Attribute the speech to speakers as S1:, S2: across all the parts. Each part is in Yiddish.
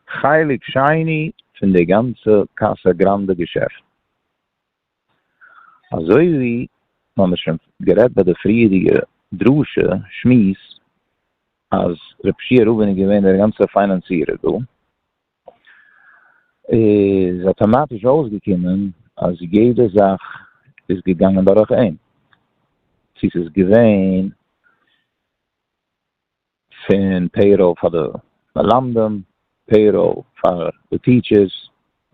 S1: חלק שני פון די גאנצע קאסא גראנדע געשעפט. אזוי ווי מ'האמיר שוין גערעדט ביי די פריערדיגע דרשה שמועס אז ר' פשיהא רובין איז געווען דער גאנצער פיינאנצירער דא, איז אטאמאטיש אויסגעקומען אז יעדע זאך איז געגאנגען דורך אים. צו ס'איז געווען. פון פעיראל פאר די מלמדים, פעיראל פאר די טיטשערס,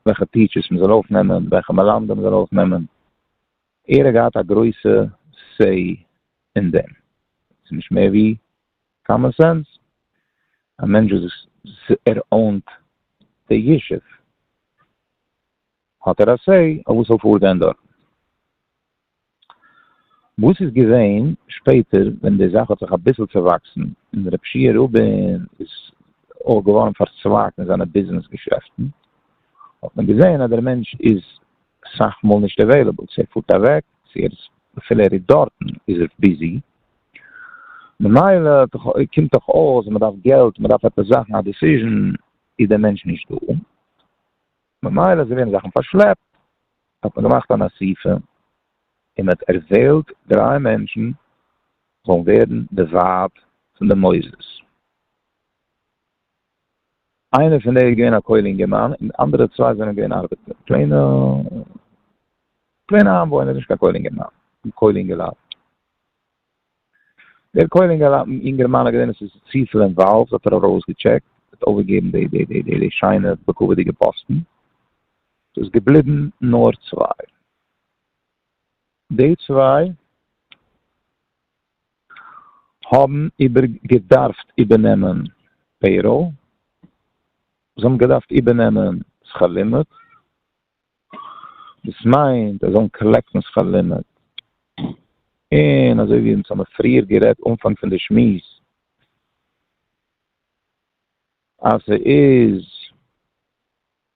S1: וועלכע טיטשערס מ'זאל אויפנעמען, וועלכע מלמדים מ'זאל אויפנעמען, ער האט געהאט א גרויסע סעי אין דעם, ס'איז נישט מער ווי קאמאן סענס, א מענטש וואס ער אונט די ישוב האט ער א סעי אויף וואס זאל פארגיין דארטן. וואס איז געווען שפעטער ווען די זאך האט זיך אביסל צעוואקסן און רב שיע רובין איז אויך געווארן פארצווייגט אין זיינע ביזנעס געשעפטן האט מען געזען אז דער מענטש איז סאך מאל נישט עוועילעבל צו ער פארט אוועק צו ער איז אפילו ער איז דארטן איז ער ביזי ממילא קומט דאך אויס אז מען דארף געלט מען דארף עפעס זאכן א דיסיזשען איז דער מענטש נישט דא. ממילא זיי ווערן זאכן פארשלעפט, האט מען געמאכט אן אסיפה און מען האט ערוועלט דריי מענטשן זאלן ווערן די ועד פון די מוסדות, איינער פון די איז געווען א כולל אינגערמאן און די אנדערע צוויי זענען געווען ארבעטער, פלעינע פלעינע איינוואוינער, נישט קיין כולל אינגערמאן, כולל אינגעלייט. דער כהן אינגערמאן האט געזען עס איז צופיל אינוואלווד האט ער ארויסגעטשעקט האט אויפגעגעבן די די די די שיינע בכבוד'יגע פאסטן ס'איז געבליבן נאר צוויי די צוויי האבן איבער געדארפט איבערנעמען פעיראל זיי האבן געדארפט איבערנעמען שכר לימוד דאס מיינט זיי זאלן קאלעקטן שכר לימוד, און אזוי ווי אונז האבן פריער גערעדט אנפאנג פון די שמועס, אז ס'איז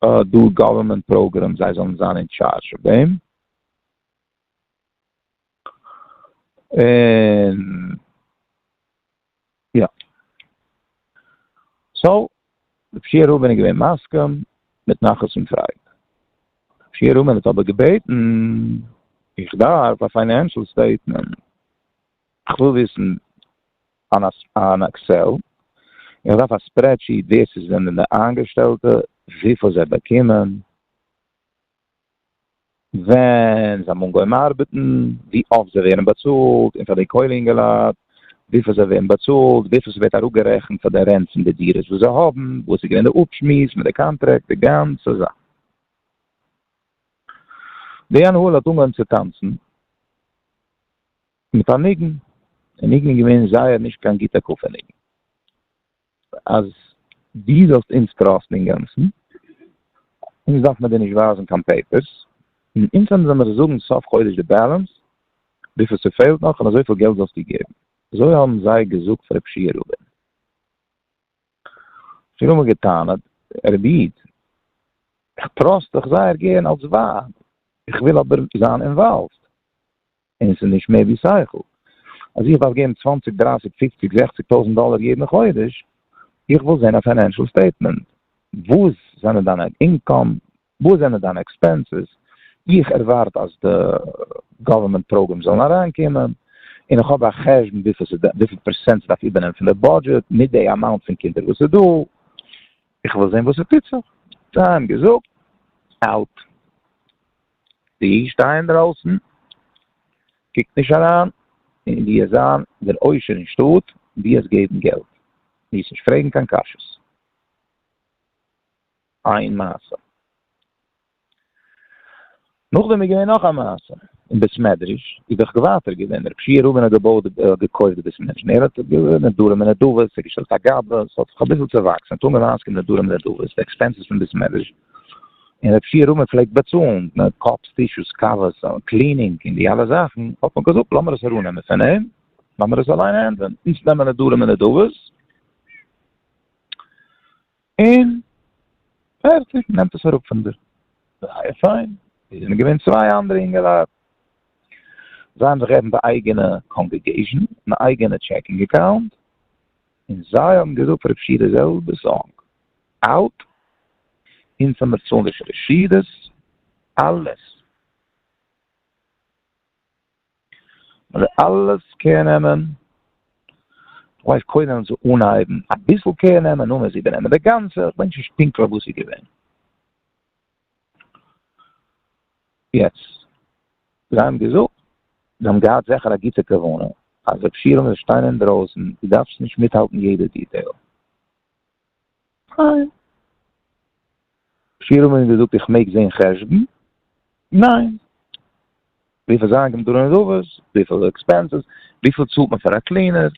S1: דא גאווערמענט פראגרעמס זיי זאלן זיין אין טשארזש אויף דעם, און יא. סאו, די פשעי רבין איז געווען מסכים מיט נחת און פרייד. די פשעי רבין האט אבער געבעטן, איך דארף א פיינענשעל סטעיטמענט, איך וויל וויסן אין עקסעל, איך דארף א ספרעדשיט ווער ס'איז זענען די איינגעשטעלטע, וויפיל זיי באקומען. ווען זיי האבן אנגעהויבן ארבעטן, ווי אפט זיי ווערן באצאלט, און פאר די קוילע אינגעלייט, וויפיל זיי ווערן באצאלט, וויפיל ס'ווערט אראפגערעכנט פאר די רענט פון די דירות וואס זיי האבן, וואס איז געווען די אפשמועס מיט די קאנטרעקט, די גאנצע זאך. די הנהלה האט אנגעהויבן צו טאנצן מיט א ניגון, די ניגון איז געווען זייער נישט קיין גוטע קאפע ניגון. אז דו זאלסט אונז טראסטן אינגאנצן, אונז דארף מען דיר נישט ווייזן קיין פעיפערס, און אונז וועלן דיר נאר זאגן סוף חודש די בעלענס, וויפיל ס'פעלט נאך, און אזויפיל געלט זאלסטו געבן. אזוי האבן זיי געזאגט פאר ר' פשיעא רובין. איך האב אמאל גע'טענה'ט, רבי איד, איך טראסט דיך זייער גערן אלס ווייב, איך וויל אבער זיין אינוואלווד. און עס איז נישט מער ווי שכל. אז איך דארף געבן צוואנציג, דרייסיג, פופציג, זעכציג טויזנט דאלער יעדן חודש, איך וויל זען א פיינענשעל סטעיטמענט. וואס זענען דיינע אינקאם? וואס זענען דיינע עקספענסעס? איך ערווארט אז די גאווערמענט פראגרעמס זאלן אריינקומען, און איך האב א חשבון וויפיל פערסענט ס'דארף איבערנעמען פון די בודזשעט, מיט די אמאונט פון קינדער וואס איז דא. איך וויל זען וואס ס'טוט זיך. זיי האבן געזאגט, אאוט. די איד שטיי אינדרויסן, קוק נישט אריין אין ווי עס זיין דער עושר אין שטאט, די עס געבן געלט מיז נישט פרעגן קיין קשיות. איין מעשה. נאכדעם איז געווען נאך א מעשה אין בית מדרש איז דאך ווייטער געווען דער פשיע רבין האט געבויט האט געקויפט די בית מדרש און ער האט געווען נדרים ונדבות ער האט געשטעלט א גאבע עס האט זיך אביסל צעוואקסן ער האט אנגעוויין אויסקומען נדרים ונדבות די עקספענסעס פון בית מדרש. און ר' ישעי' מ' פלעגט באצאלן קאפס טישוס קאוועס קלינינג און די אלע זאכן האט מען געזאגט לאמיר עס אראפנעמען פון אים לאמיר עס אליין הענדלען אונז נעמען נדרים און נדבות און פערטיג נעמט עס אראפ פון דיר זייער פיין עס זענען געווען צוויי אנדערע אינגעלייט זיי האבן זיך געעפנט א אייגענע קאנגעגעישן אן אייגענע טשעקינג אקאונט און זיי האבן געזאגט פאר ר' ישעי' די זעלבע זאך אלט, אונז האמיר צאלן די שרשירעס, אלעס. מ'זאל אלעס קער נעמען, כ'ווייס קודם ווען צו אנהייבן, אביסל קער נעמען, נאכדעם וועסט איבערנעמען די גאנצע, כ'ווייס נישט פונקטליך וואס איז געווען. יעצט, זיי האבן געזאגט, זיי האבן געהאט זעכער א גוטע כוונה, אז רב שלום זאל שטיין אינדרויסן, דו דארפסט נישט מיטהאלטן יעדע דיטעיל. פֿיר האָבן אים געזאָגט, איך מעג זען חשבון? נײן! װיפֿל זײַן קומט אָן אין רובעס? װיפֿל עקספּענסעס? װיפֿל צאָלט מען פֿאַר אַ קלינער?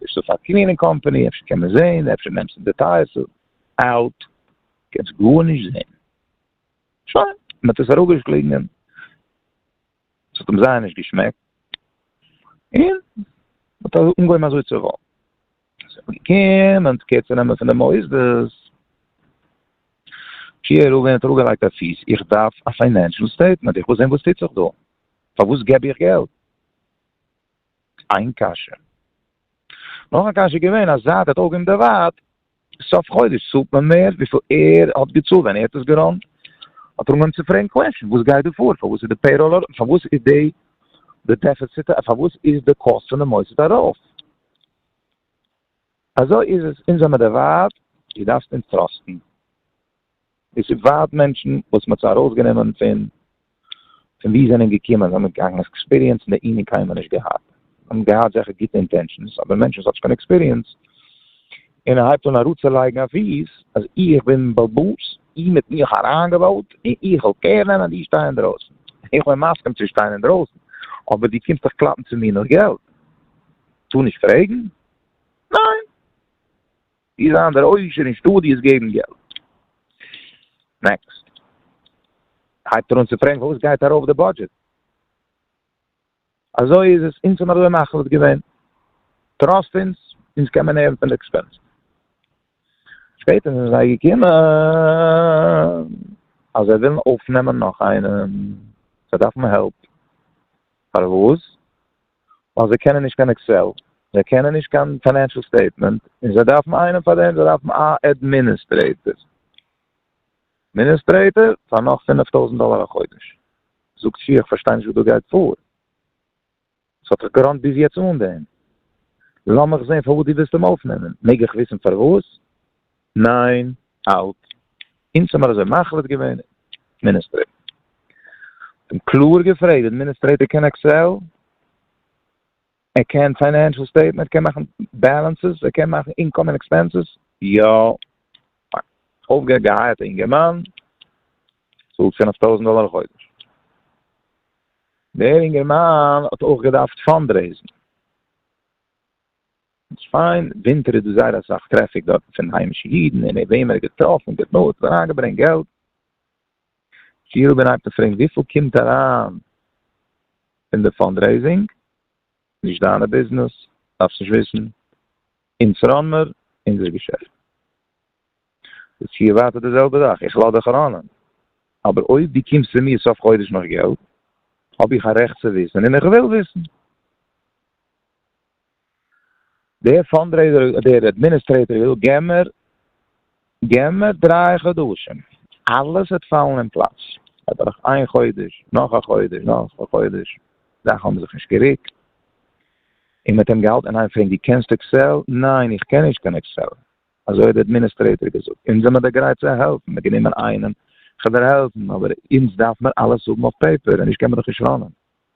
S1: נישט דאָ פֿאַר קלינינג קאָמפּאַני, אפֿשר קען מען זען? אפֿשר נעמסטו די טײַערסטע? אַלט! קענסט גאָרנישט זען. שױן, מ'האָט עס אַראָפּגעשלונגען. עס האט אים זייער נישט געשמעקט, און האט אנגעהויבן אזוי צו רעדן, עס איז געקומען די קער צו נעמען פון די מוסדות, שיער רובין האט אראפגעלייגט א פיס, איך דארף א פיינענשעל סטעיטמענט, איך וויל זען וואס טוט זיך דא, פארוואס געב איך געלט? איין קשיא. נאך א קשיא איז געווען אז זייט ער האט אויפגעהויבן די וואט סוף חודש צאלט מען מער וויפיל ער האט געצאלט ווען ער האט עס געראנט האט ער אנגעהויבן צו פרעגן קוועשענס וואס גייט דא פאר פארוואס איז די פעיראל אראפ פארוואס איז די די דעפעציט פארוואס איז די קאסט פון די מוסד ארויף אזוי איז עס אונז האבן מיר דערווארט איר דארפט אונז טראסטן. עס איז ווייט מענטשן וואס מען האט זיי ארויס גענומען פון פון ווי זענען געקומען זיי האבן קיין עקספיריענס אין די ענין קיינמאל נישט געהאט זיי האבן געהאט זעכער גוטע אינטענשאנס אבער מענטשן וואס האט נישט קיין עקספיריענס און ער הייבט אן אראפצולייגן א פיס אז איך בין בעל באס איר האט מיך אריינגעוואוט און איך וועל קער נעמען דו שטיי אינדרויסן איך בין מסכים צו שטיין אינדרויסן אבער דו קומסט דאך קלאפן צו מיר נאך געלט טאר נישט פרעגן? ניין! צי זיין דער עושר אין שטודיעס געבן געלט. נעקסט הייבט ער אן צו פרעגן פארוואס גייט ארויף די בודזשעט? אזוי איז עס אונז האבן אזוי מחליט געווען, טראסט אונז, אונז קען מען הערן פון די עקספענסעס. שפעטער זענען זיי געקומען אז זיי ווילן אויפנעמען נאך איינעם, זיי דארפן העלפ. פארוואס? ווייל זיי קענען נישט קיין עקסעל, זיי קענען נישט קיין פיינענשעל סטעיטמענט, און זיי דארפן איינעם פאר דעם, זיי דארפן א אדמיניסטרעיטער, אדמיניסטרעיטער פאר נאך פינף טויזנט דאלער א חודש, זאגט שיח איך פארשטיי נישט וואס דא גייט פאר, עס האט זיך געראנט ביז יעצט אן דעם, לאמיך זען פארוואס דו ווילסט אים אויפנעמען, מעג איך וויסן פארוואס? ניין, האלט, אונז האמיר אזוי מחליט געווען, אדמיניסטרעיטער האט אים קלאר געפרעגט, די אדמיניסטרעיטער קען עקסעל? ער קען פיינענשעל סטעיטמענט? ער קען מאכן בעלענסעס? ער קען מאכן אינקאם און עקספענסעס? יא! פיין, אויפגעהערט געהייערט א אינגערמאן, צאלט פינף טויזענט דאלער א חודש, דער אינגערמאן האט אויך געדארפט פאנדרעיזן, אין שפאן ווינטער איז דא זייער אסאך טרעפיק דארטן פון היימישע אידן און וועם ער האט געטראפן גע'תנא'ט און אריינגעברענגט געלט. כאילו ווען איינער האט געפרעגט וויפיל קומט אריין פון די פאנדרעיזינג? נישט דיינע ביזנעס, דארפסט נישט וויסן. אונז פראנמער, אונזער געשעפט. איז טשיער ווייטער די זעלבע זאך, איך לאז דיך אריין, אבער אויב דו קומסט צו מיר סוף חודש נאך געלט, האב איך א רעכט צו וויסן און איך וויל וויסן. דער פאנדרעיזער האט דער אדמיניסטרעיטאר געזאגט געב מיר געב מיר דריי חדשים אלעס וועט פאלן אין פלאץ, אבער דורך איין חודש נאך א חודש נאך א חודש זאכן האבן זיך נישט גערוקט און מ'האט אים געהאלטן אינאיין פרעגן דו קענסט עקסעל? ניין איך קען נישט קיין עקסעל אזוי האט דער אדמיניסטרעיטאר געזאגט אונז זעמער דאך גרייט צו העלפן מ'האט גענומען איינעם כדי העלפן אבער אונז דארף מיר אלעס האבן אויף פעיפער און נישט קען מען דאך נישט ראנען.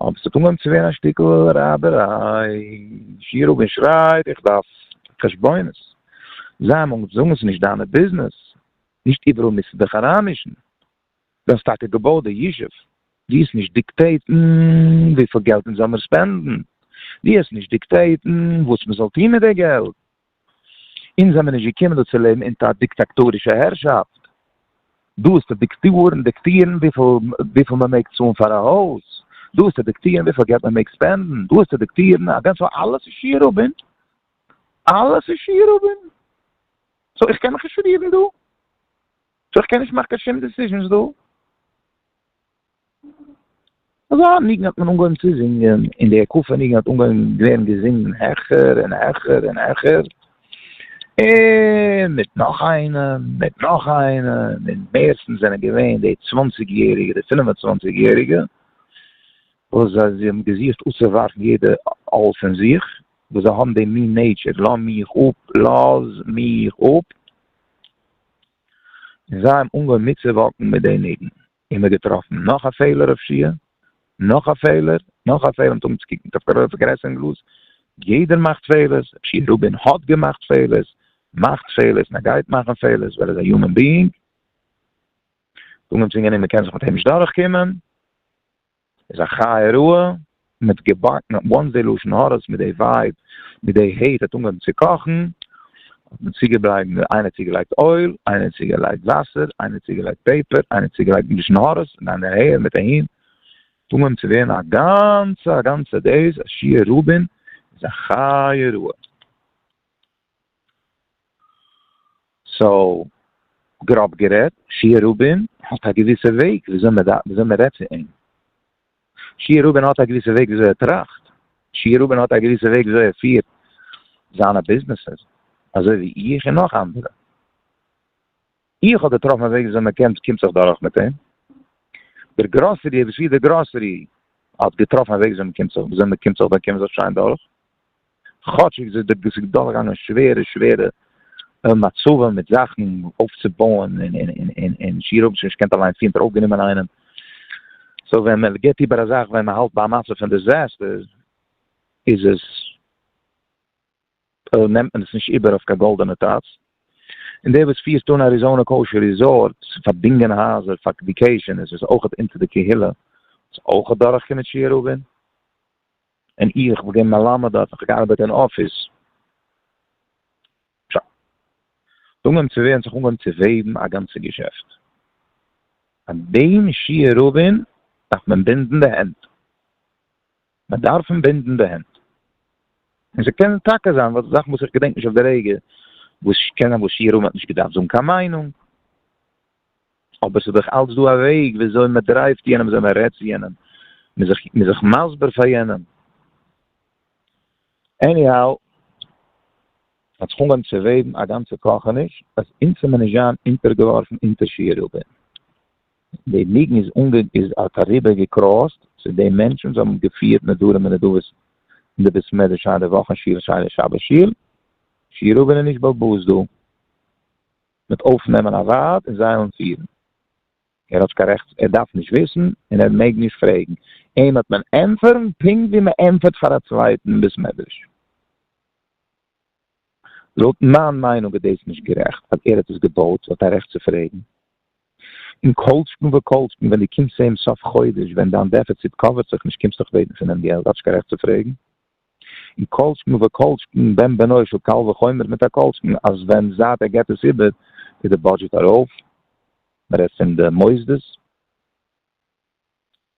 S1: אבער ס'איז אנגעהויבן צו ווערן א שטיקל רייבעריי, שיר אויף און שרייב איך דארף חשבונות, זיי האבן אנגעהויבן צו זאגן ס'נישט דיינע ביזנעס, נישט איבעראל מוזטו דיך אריינמישן, דו האסט טאקע געבויט די ישוב, דו האסט נישט דיקטעיטן וויפיל געלט אונז זאל מיר ספענדן, דו האסט נישט דיקטעיטן וואס מ'זאל טון מיט די געלט. אונז זעמיר נישט געקומען דא צו לעבן אונטער א דיקטאקטארישע הערשאפט. דא איז צו דיקטארן, דיקטירן וויפיל מען מעג צאלן פאר א הויז, דא איז צו דיקטירן וויפיל געלט מען מעג ספענדן, דא איז צו דיקטירן א גאנצע, אלעס איז שיעור הבין, אלעס איז שיעור הבין. סאו איך קען מיך נישט רירן דא, סאו איך קען נישט מאכן קיין שום דעסיזשענס דא. אזא ניגון האט מען אנגעהויבן צו זינגען, און די הקפה ניגון האט אנגעהויבן ווערן געזינגען העכער און העכער און העכער, און מיט נאך איינעם, מיט נאך איינעם, און מערסטנס זענען געווען די צוואנציג יעריגע, די פינף און צוואנציג יעריגע, וואס זיי האבן געזוכט אפצואווארפן יעדע עול פון זיך, וואס זיי האבן דעם מין נעיטשער, לאז מיך אפ, לאז מיך אפ, און זיי האבן אנגעהויבן מיטצואוואקן מיט די ניגון. און מיר געטראפן נאך א פעלער אויף שי ע, נאך א פעלער, נאך א פעלער, מ'טאר נישט צו קוקן אויף די פארגרעסערונג גלאז, יעדער מאכט פעלערס, ר' שי ע רובין האט געמאכט פעלערס, מאכט פעלערס, און ער גייט מאכן פעלערס ווייל ער איז א יומען ביאינג, זאג אים צו אינגערמאן מ'קען זיך מיט אים נישט דורכקומען. איז א חיה רעה מיט געבאק מיט וואנס די לשון הרע'ס מיט די ווייב מיט די העיט האט אנגעהויבן צו קאכן האט מען צוגעבלייבן איינער צוגעלייגט אויל איינער צוגעלייגט וואסער איינער צוגעלייגט פעפער איינער צוגעלייגט די לשון הרע'ס און דיין העיר מיט אהין האט אנגעהויבן צו ווערן א גאנצע א גאנצע דעיס א שיעור רובין איז א חיה רעה. סאו, גראב גערעדט, שי' רובין האט א געוויסע וועג וויאזוי מען דארף וויאזוי מען רעדט צו אים. שי' רובין האט א געוויסע וועג וויאזוי ער טראכט. שי' רובין האט א געוויסע וועג וויאזוי ער פירט זיינע ביזנעסעס, אזוי ווי איך און נאך אנדערע. איך האב געטראפן א וועג וויאזוי מען קען קומט זיך דורך מיט אים, דער גראסערי וואס יעדע גראסערי האט געטראפן א וועג וויאזוי מען קומט זיך וויאזוי מען קומט זיך דורך קען מען זיך שיין דורך, כאטשיג ווי אזוי דאס איז דורכגעגאנגען שווערע שווערע מצבים מיט זאכן אויפצובויען און און און און און שיעור האבן זיך נישט געקענט אליין פירן טראו גענומען איינעם, סאו ווען מען גיבט איבער א זאך ווען מען האלט ביי א מצב פון דיזעסטער איז עס. נעמט מען עס נישט איבער אויף קיין גאלדענע טאץ, און דער וואס פירט אן אריזאנע קאושער ריזארטס, פארדינגען הייזער פאר ויקעישאן איז עס אויכעט אונטער די קהילה וואס אויכעט דורכקומען שיעור רבים, און איך וואס בין מלמד דארט האב איך געארבעט אין אפיס. ס'איז אנגעהויבן צו ווערן, ס'האט זיך אנגעהויבן צו וועבן א גאנצע געשעפט. פאר דעם שיעור רבים דארף מען בינדן די הענט. מען דארף אים בינדן די הענט. און ס'קען טאקע זיין וואס זאכן וואס איך געדענק נישט אויף די רגע, וואס קען זיין וואס שי' רמ האט נישט געדארפט זאגן קיין מיינונג, אבער ס'איז דאך אלץ דא א וועג ווי אזוי מען דרייווט יענעם, ווי אזוי מען רעדט צו יענעם, מען איז זיך מסביר פאר יענעם. עניהאו, ס'האט זיך אנגעהויבן צו וועבן א גאנצע קאכעניש אז אונז זעמיר נישט זיין אונטערגעווארפן אונטער שי' רבי'ן. די ניגון איז אנגע איז האט אריבער געקראסט צו די מענטשן וואס האבן געפירט נדרים און נדבות אין די בית מדרש היי די וואך אין שיל שיינע שבת שיל שירו בין איך נישט באלבאזט דא מיט אויפנעמען א ווארט און זיי אנפירן. ער האט קיין רעכט ער דארף נישט וויסן און ער מעג נישט פרעגן אים האט מען ענטפערן פונקט ווי מען ענטפערט פאר א צווייטן אין בית מדרש. לויט מיין מיינונג איז דאס נישט גערעכט ווייל ער האט עס געבויט האט א רעכט צו פרעגן. און כל שכן וכל שכן ווען דו קומסט צו אים סוף חודש ווען דיין דעפיציט קאווערט זיך נישט קומסטו כ'בעטן פון אים געלט האסט קיין רעכט צו פרעגן. און כל שכן וכל שכן בן בנו של קל וחומר מיט א כל שכן אז ווען זייט ער געבט עס איבער איז די בודזשעט ארויף. מ'רעדט פון די מוסדות.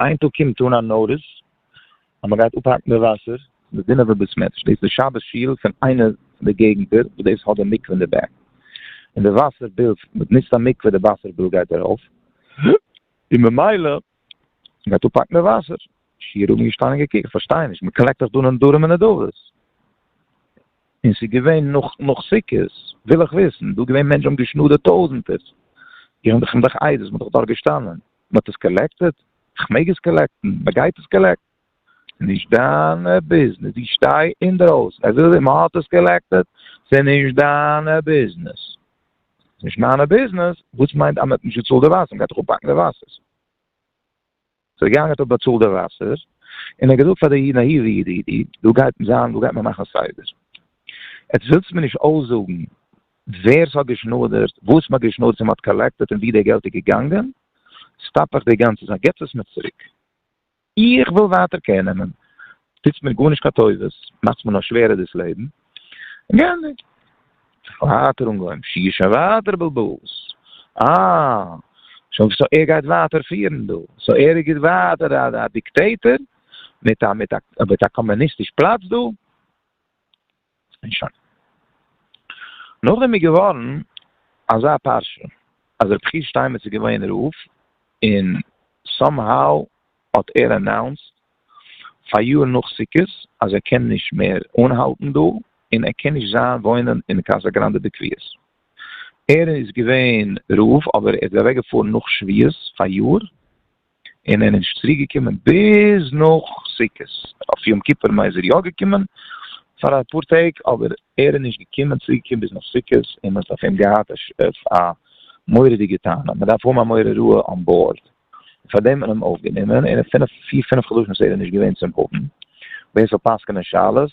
S1: איין טאג קומט אן א נאטיס אז מען גייט אפהאקן די וואסער אין די דינוב'ער בית מדרש, דאס איז די שבת שול פון איינע פון די געגענטער וואס דאס האט די מקווה אין די בעק, און די וואסער ביל, מען נוצט א מקווה, די וואסער ביל גייט ארויף, און ממילא מען גייט אפהאקן די וואסער, שיעור האבן געשטאנען און געקוקט, כ'פארשטיי נישט, מען קלעקט דאך דא נדרים און נדבות, און ס'איז געווען נאך נאך סוכות, וויל איך וויסן, דא געווען מענטשן האבן געשנאדערט טויזענטערס, איך בין דאך עדות, מען איז דאך דארט געשטאנען. מען האט עס קאלעקטעד? איך מעג עס קאלעקטן? מען גייט עס קאלעקטן? נישט דיינע ביזנעס, די שטיי אינדרויסן, ער וויל מען האט עס קאלעקטעד? ס'איז נישט דיינע ביזנעס, ס'איז נישט מיינע ביזנעס, וואס מיינט אז מען האט נישט געצאלט די וואסער? מען גייט דאך אפבאקן די וואסער. ס'איז ער געגאנגען ער האט באצאלט די וואסער, און ער האט געזאגט פאר די נאיווע איד, דא גייט מען זיין, דא גייט מען מאכן סדר, עטס ווילטס מיר נישט אויסזאגן ווער ס'האט געשנאדערט, וואס מ'האט געשנאדערט און מ'האט קאלעקטעט און ווי די געלט איז געגאנגען, סטאפ איך די גאנצע זאך, געבטס עס מיר צוריק. איך וויל ווייטער קער נעמען. טוטס מיר גארנישט קיין טובות, מאכטס מיר נאר שווערער דאס לעבן. געענדיגט. ווייטער אנגעהויבן שיעור שוין ווייטער בלבול'ס. אה, שוין סאו ער גייט ווייטער פירן דא. סאו ער איז גוט ווייטער א דיקטעיטער מיט א מיט א מיט א קאמוניסטיש פלאץ דא. און שוין. נאכדעם איז געווארן אזא פרשה אז רבי חייא שטיינמעץ איז געווען רב, און סאם האו האט ער אנאונסט פאר יאר נאך סוכות אז ער קען נישט מער אנהאלטן דא, און ער קען נישט זיין וואוינען אין קאסא גראנדע בקביעות. ער איז געווען רב אבער ער איז אוועקגעפארן נאך שביעות פאר יאר. און ער איז נישט צוריק געקומען ביז נאך סוכות, אויף יום כיפור איז ער יא געקומען פאר אפאר טעג, אבער ער איז נישט געקומען צוריק געקומען ביז נאך סוכות, און מען האט אויף אים געהאט א מורא'דיגע טענה, מען דארף האבן א מורה רעה אן בארד, און פאר דעם האט מען אים אויף גענומען, און אין פיר פינף חדשים וואס ער איז נישט געווען צום אבן בית זאל פסק'נען שאלות,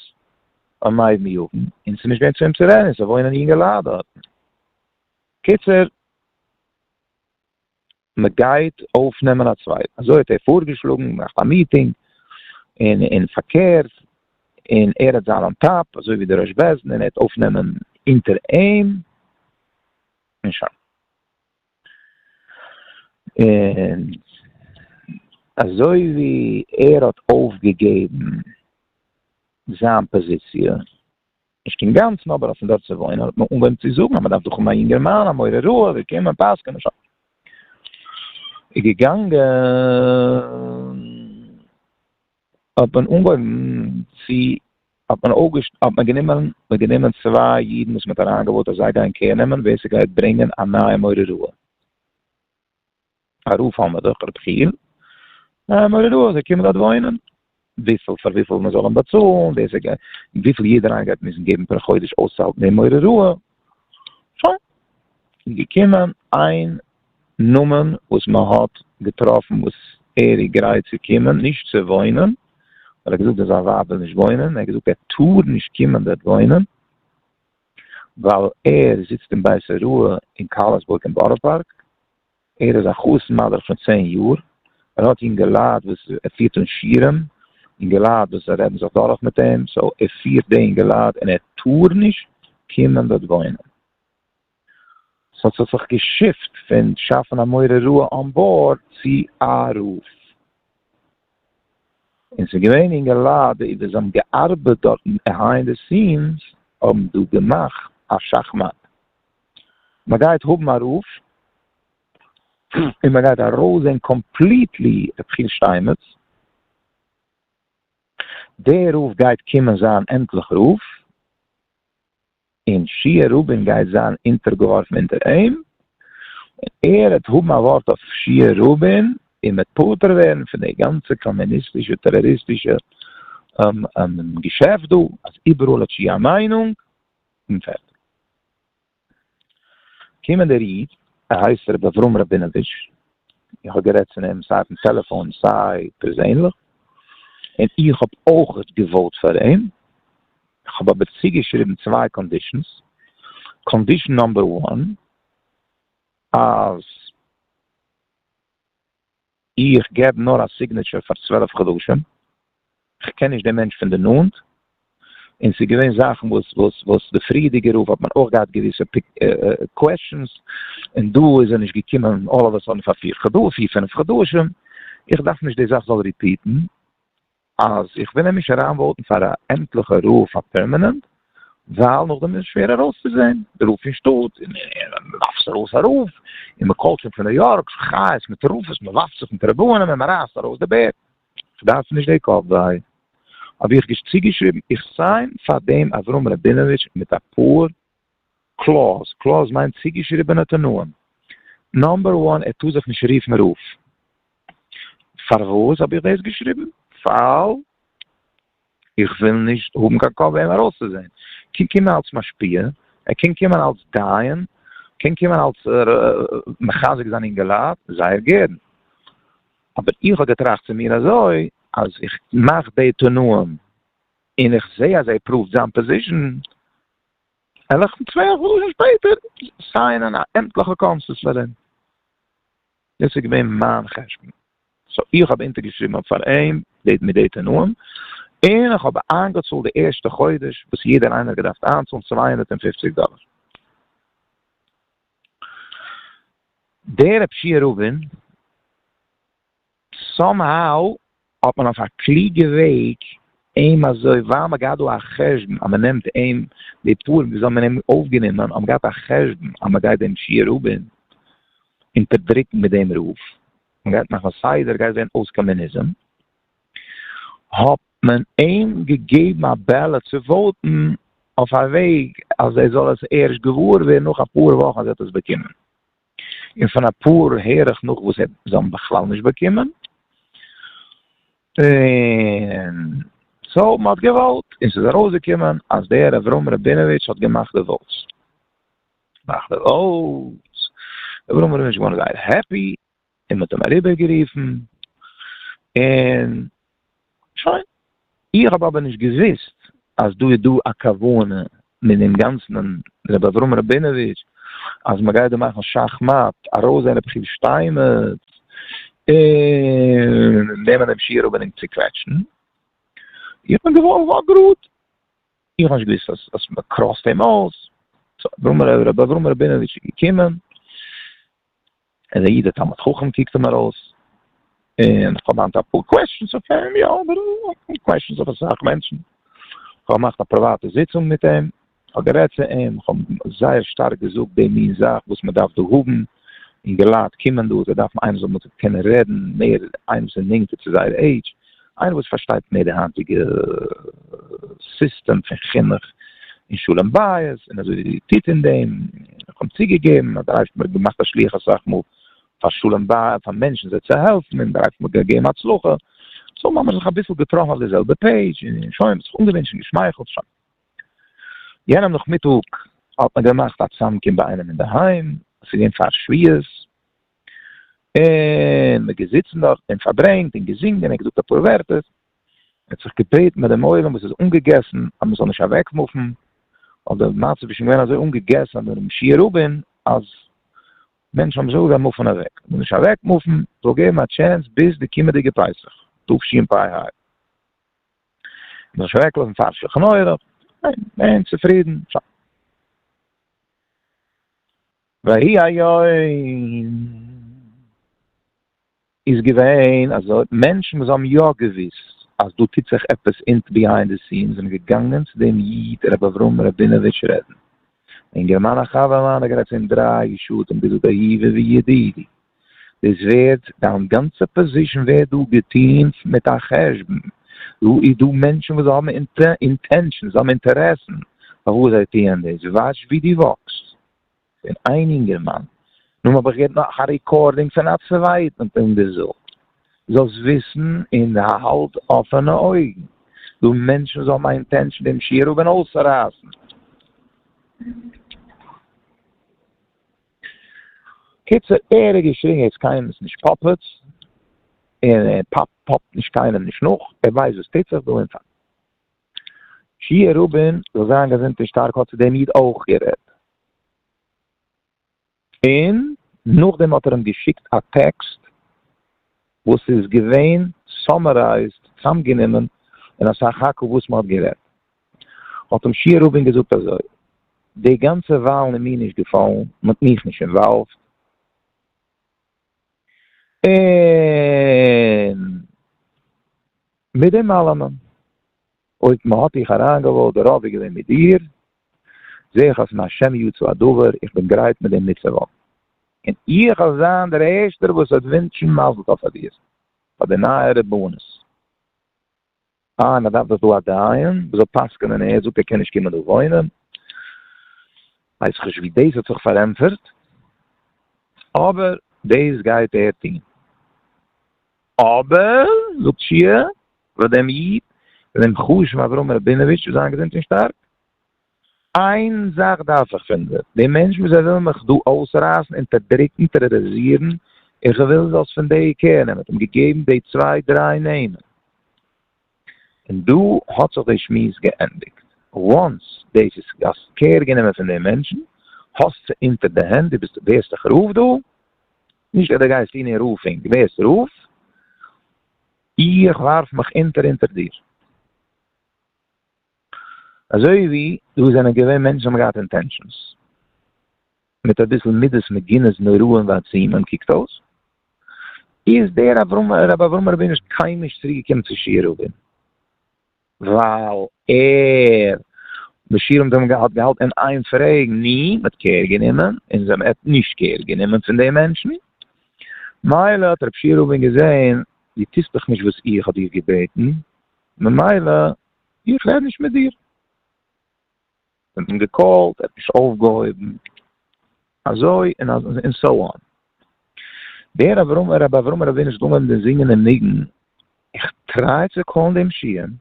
S1: און מה יבן יבן, און ס'איז נישט געווען צו אים צו רעדן, ס'וואוינען יונגעלייט דארטן. קיצור. מען גייט אויפנעמען א צווייטן, אזוי האט ער פארגעשלאגן, געמאכט א מיטינג, און און פארקערט, און ער האט זיין אן טאפ, אזוי ווי דער ראש בעש ט, און ער האט אויפנעמען אונטער אים, און שוין. און אזוי ווי ער האט אויפגעגעבן זיין פאזיציע, נישט אינגאנצן אבער אויפן דארט צו וואוינען האט מען אנגעהויבן צו זאגן אז מען דארף דא האבן א יונגערמאן א מורה רעה וועט קומען פסק'נען שבת איז געגאנגען האט מען אנגעהויבן צו האט מען אויפגעש האט מען גענומען מען גענומען צוויי אידן וואס מען האט אריינגעוואוט אז זיי גייען קעיר נעמען ווער ס'גייט ברענגען א נייע מורה רעה. א רוף האבן מיר דאך רבי חייא, א מורי דעה זיי קומען דארט וואוינען, וויפיל פאר וויפיל מען זאל אים באצאלן, ווער ס'גייט און וויפיל יעדער איינער גייט מוזן געבן פער חודש אויסצוהאלטן דעם מורי דעה, שוין, איז געקומען איין נאמען וואס מען האט געטראפן וואס ער איז גרייט צו קומען, נישט צו וואוינען, ווייל ער האט געזאגט אז זיין ווייב וויל נישט וואוינען, ער האט געזאגט ער טאר נישט קומען דארט וואוינען, ווייל ער זיצט אין בית הוראה אין קארלסבורג אין בארא פארק, ער איז א חתן מדריך שוין צען יאר, ער האט אינגעלייט וואס ער פירט אן שיעורים, אינגעלייט וואס זיי רעדן זיך דורך מיט אים, סאו ער פירט די אינגעלייט און ער טאר נישט קומען דארט וואוינען. סאו ס'האט זיך געשיפט פון שאפן א מורה רעה אן בארד צו א רב. און ס'איז געווען אינגעלייט וואס האבן געארבעט דארט ביהיינד די סיענס האבן דא געמאכט א שאכמאט, מ'גייט האבן א רוף און מ'גייט ארויסזען קאמפליטלי ר' חיל שטיינמעץ, דער רוף גייט קומען זיין עמטליך רוף, און שיעה רבין גייט זיין אונטערגעווארפן אונטער אים, און ער וועט האבן א ווארט אויף שיעה רבין, און מ'עט פטור ווערן פון די גאנצע קאמוניסטישע טעראריסטישע געשעפט דא, אז איבעראל האט שיעה א מיינונג, און פערטיג. קומען דער איד, ער הייסט ר' אברהם ראבינאוויטש, איך האב גערעדט צו אים סיי אויפן טעלעפאון סיי פערזענליך, און איך האב אויכעט געוואוט פאר אים, איך האב אבער צוגעשריבן צוויי קאנדישענס, קאנדישען נאמבער וואן אז איך געב נאר א סיגנעטשער פאר צוועלף חדשים, איך קען נישט דעם מענטש פון די נאנט, און ס'איז געווען זאכן וואס וואס וואס די פריערדיגע רב האט מען אויך געהאט געוויסע קוועסטשענס, און דא איז ער נישט געקומען אלל אוו א סאדען פאר פיר פינף חדשים, איך דארף נישט די זאך זאל ריפיעטן, אז איך וויל אים נישט אריין וואוטן פאר א עמטליכע רב פאר פערמענענט, ווייל נאכדעם איז שווער ארויסצוזעהן, די רב פון שטאט, און מען ווארפט זיך ארויס א רב, און מען קאלט שוין פון ניו יארק, חיות מטורפות, מען ווארפט זיך מיט רבנים און מען רייסט ארויס די בערד. כ'דארף נישט די קאפ וויי. האב איך צוגעשריבן, איך סיין פאר דעם אברהם ראבינאוויטש מיט אפאר קלאוז, קלאוז מיינט צוגעשריבענע תנאים, נאמבער וואן ער טאר זיך נישט רופן רב. פארוואס האב איך דאס געשריבן? ווייל. איך וויל נישט האבן קיין כח אים ארויסצוזען, קען קומען אלס משפיע, ער קען קומען אלס דיין, קען קומען אלס מחזק זיין אינגעלייט, זייער גערן. אבער איך האב געטראכט צו מיר אזוי, אז איך מאך די תנאים און איך זע אז ער פראווט זיין פאזישאן, וועל איך צוויי חדשים שפעטער סיינען א עמטליכע קאנסוס פאר אים. דאס איז געווען מיין חשבון, סאו איך האב אונטערגעשריבן האב פאר אים די מיט די תנאים, און איך האב איינגעצאלט די ערשטע חודש וואס יעדער איינער האט געדארפט איינצאלן צוויי הונדערט און פופציג דאלער. דער רב שיעא רובין סאם האו האט מען אויף א קלוגע וועג אים אזוי ווייל מען האט געהאט דא א חשבון אז מען נעמט אים די פורים וויאזוי האט מען אים אויפגענומען האט מען געהאט א חשבון אז מען גייט דעם שיעור רבין אונטערדרוקן מיט דעם רוף מען גייט מאכן סדר גייט ווערן אויס קאמוניזם האט מען אים געגעבן א בעלעט צו וואוטן אויף א וועג אז ער זאל עס ערשט געוואר ווערן נאך אפאר וואכן אז ער האט עס באקומען. און פון אפאר הער איך נאך וואס זיי האבן בכלל נישט באקומען, און סאו מען האט געוואוט און ס'איז ארויסגעקומען אז דער אברהם ראבינאוויטש האט געמאכט די וואוטס. געמאכט די וואוטס. אברהם ראבינאוויטש איז געווארן זייער העפי, און מ'האט אים אריבערגערופן, און שוין. איך האב אבער נישט געוואוסט אז דא איז דא א כוונה מן אים גאנצן און רבי אברהם ראבינאוויטש אז מ'גייט דא מאכן שאך מאט, ארויסזען רבי חייא שטיינמעץ און נעמען דעם שיעור אבער אים צוקוועטשן. איך בין געווארן גאר גראד, איך האב נישט געוואוסט אז מ'קראסט אים אויס. סאו רבי אברהם ראבינאוויטש איז געקומען, ער איז א איד א תלמיד חכם קוקט אים ארויס, און איך האב היינט אפאר קוועסטשענס אויף אים, יא אבער אפאר קוועסטשענס אויף אסאך מענטשן, איך האב געמאכט א פריוואטע זיצונג מיט אים, איך האב גערעדט צו אים, איך האב אים זייער שטארק געזאגט די מין זאך וואס מען דארף דא האבן, אינגע לייט קומען דא זיי דארפן איינער זאל מיט זיי קענען רעדן, מער איינער וואס איז נענטער צו זייער עידזש, איינער וואס פארשטייט מער די היינטיגע סיסטעם פון חינוך און שלום בית און אזוי טוט אין דעם, איך האב צוגעגעבן אז דער אייבערשטער האט געמאכט א שלוח אסאך מאל פאר שלום בית פאר מענטשן זיי צו העלפן און דער אייבערשטער האט געגעבן הצלחה, סאו מ'האמיר זיך אביסל געטראפן אויף די זעלבע פעידזש און שוין, מ'האט זיך אנגעווינטשן און געשמייכלט שוין. יענעם נאכמיטאג האט מען געמאכט א צאמקום ביי איינעם אינדערהיים, עס איז געווען פאר שביעות, און מען געזיצן דארט און פארברענגט און געזינגען און געזאגט אפאר ווערטער, מען האט זיך געבעטן ביי דעם עולם וואס איז אנגעגעסן אז מען זאל נישט אוועקמופן, אבער די מצב איז שוין געווען אזוי אנגעגעסן אדער משיח רבין אז מענטשן האבן זיך אזוי געווען מופן אוועק, מען זאל נישט אוועקמופן, זאל געבן א טשענס ביז די קומענדיגע פסח תשפ ה, מען זאל נישט אוועקלאזן פאר שלחן עורך, מען איז צופרידן. ויהי היום, איז געווען אז מענטשן וואס האבן יא געוואוסט אז דא טוט זיך עפעס אונט ביהיינד די סינס זענען געגאנגען צו דעם איד רבי אברהם ראבינאוויטש רעדן, אינגערמאן א חבר מיינער גערעדט צו אים דריי שטותים ביז דא באהיבי וידידי דאס ווערט דיין גאנצע פאזישן ווערט דא געטוהן מיט א חשבון, דא איז דא מענטשן וואס האבן אינטענשאנס, זיי האבן אינטערעסן פארוואס זיי טוען דאס, וואטש ווי דו וואקסט. פון איין אינגערמאן, נאר האב איך געהערט נאך א ריקארדינג פון א צווייטן פון די זאל. זאלסט וויסן און האלט אפענע אויגן, דו מענטשן זאל מיין אינטענשן דעם שיעור האבן אויסצורייסן. קיצור, ער האט געשריגן ער איז קיינעמס נישט פאפעץ, און ער פאפט נישט קיינעם נישט נאך, ער ווייסט וואס טוט זיך דא און פאר. שיהיה רבון זאל זיין געזונט און שטארק האט צו דעם איד אויך גערעדט, און נאכדעם האט ער אים געשיקט א טעקסט וואס איז געווען סאמערייזד, צוזאמגענומען, אין א סך הכל וואס מען האט גערעדט, האט אים שיהיה רבון געזאגט אזוי, די גאנצע וואלן איז מיר נישט געפאלן, מען האט מיך נישט אינוואלווד, און מיט דעם אלעמען, אויב מען האט דיך אריינגעוואוט, דער רוב איז געווען מיט דיר, זעה איך אז פון השם יצא הדבר, איך בין גרייט מיט דעם מיטצואוואקן, און איך וועל זיין דער ערשטער וואס וועט ווינטשן מזל טוב פאר דיר, פאר די נייע רבנות. אה, מען דארף דאך דא א דיין וואס זאל פסק'נען און ער זאגט ער קען נישט קומען דא וואוינען. ווייסעכניש ווי דאס האט זיך פארענטפערט, אבער דאס גייט ער טון. אבער, זאגט שיע, וואס דעם איד, דעם חשוב'ן אברהם ראבינאוויטש, זיין געזונט און שטארק, איין זאך דארף איך פון דיר, די מענטש וואס זיי ווילן מיך דא אויסרייסן, אונטערדרוקן, טערארעזירן, איך וויל זאלסט פון די קער נעמען, האט אים געגעבן די צוויי דריי נעמען, און דא האט זיך די שמועס געענדיגט, וואנס דאס איז האסט קער גענומען פון די מענטשן, האסט זיי אונטער די הענט, דו ביסט ווערסט דאך רב דא, נישט אז דו גייסט אן אין רב'ינג, דו ווערסט רב, איך ווארף מיך אונטער אונטער דיר. אזוי ווי דא זענען געווען מענטשן האבן געהאט אינטענשאנס, מיט אביסל מידות מגינות נוראים ועצימים קוקט אויס, איז דער אברהם ר' אברהם רבינו נישט קיינמאל נישט צוריק געקומען צו שיערובין, ווייל ער די שיעורים זענען געהאט געהאלט אין איין פרעגן ני מ'האט קער גענומען און זיי מ'האט נישט קער גענומען פון די מענטשן, מילא האט ר' שיערובין געזען די טוסט דאך נישט וואס איך האב דיר געבעטן ממילא איך רעד נישט מיט דיר. איך האב אים געקאלט, ער האט נישט אויפגעהויבן, אזוי און אזוי און סאו אן. דער אברהם, רבי אברהם רבינוביץ' האט אנגעהויבן דעם זינגען דעם ניגון, איך טריי צו קאלן דעם שיען,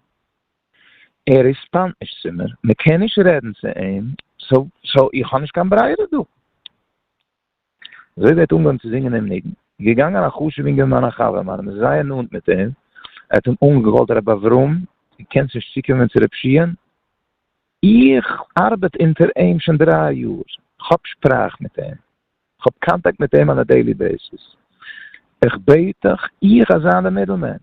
S1: ער רעספאנד נישט צו מיר, מען קען נישט רעדן צו אים, סאו איך האב נישט קיין ברירה דא. אזוי וועט אנגעהויבן צו זינגען דעם ניגון, איז געגאנגען א חשובע אינגערמאן א חבר מיינע מ'איז זייער נאנט מיט אים, ער האט אים אנגעקאלט רבי אברהם דו קענסט נישט צוקומען צו רבי שמעון? איך ארבעט אונטער אים שוין דריי יאר, כ'האב שפראך מיט אים, כ'האב קאנטאקט מיט אים אן א דעילי בעיסיס, איך בעט דיך, איך אז זיין די מידל מען,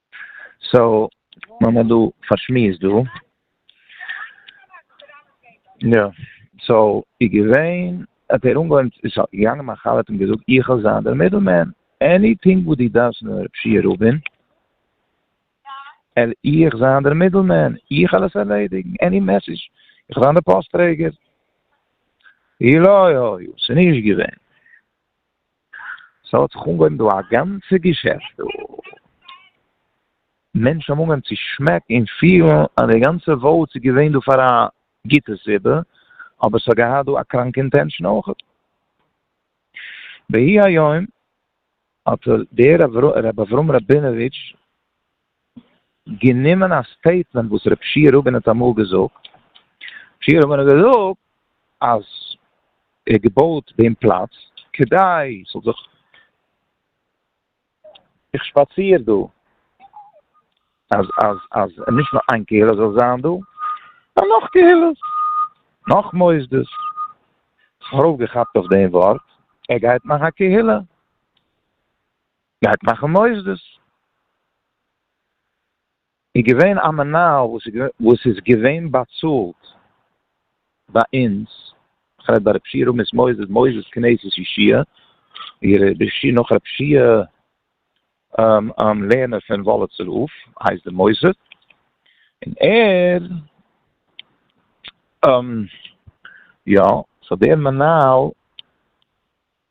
S1: סאו מען האט דא פארשמועסט דא. יא סאו איז געווען האט ער אנגעהויבן איז געגאנגען מיין חבר האט אים געזאגט איך וועל זיין דער מידל מען עניטינג וואס דו דארפסט פון רב שיע רובין על איך זיין דער מידל מען איך וועל עס ערלעדיגן עני מעסעדזש איך וועל זיין דער פאסט טרעגער אוי אוי אוי ס'איז נישט געווען. סא האט זיך אנגעהויבן דא א גאנצע געשעפט דא, מענטשן האבן אנגעהויבן צו שמעקן און פילן אז די גאנצע וואוטס איז געווען דא פאר א גוטע סיבה, אבער ס'האט געהאט דא א קראנקע אינטענשאן אויך. והי' היום האט דער ר' אברהם ראבינאוויטש, גענומען א סטעיטמענט וואס רב שי' רובין האט אמאל געזאגט, רב שי' רובין האט געזאגט אז ער האט געבויט דעם פלאץ כדי ס'זאל זיך, איך שפאציר דא, אז אז אז נישט נאר איין קהילה זאל זיין דא, נאר נאך קהילות, נאך מוסדות, כ'האב ארויפגעכאפט אויף דעם ווארט, ער גייט מאכן א קהילה. גייט מאכן מוסדות. איז געווען א מנהל וואס איז געווען באצאלט ביי אונז, איך רעד ביי רב שי' רמות מוסדות, מוסדות כנסת ישי', נאך רב שי' לערנער פון וואליצער הויף הייסט די מוסד, און ער יא, סאו דער מנהל.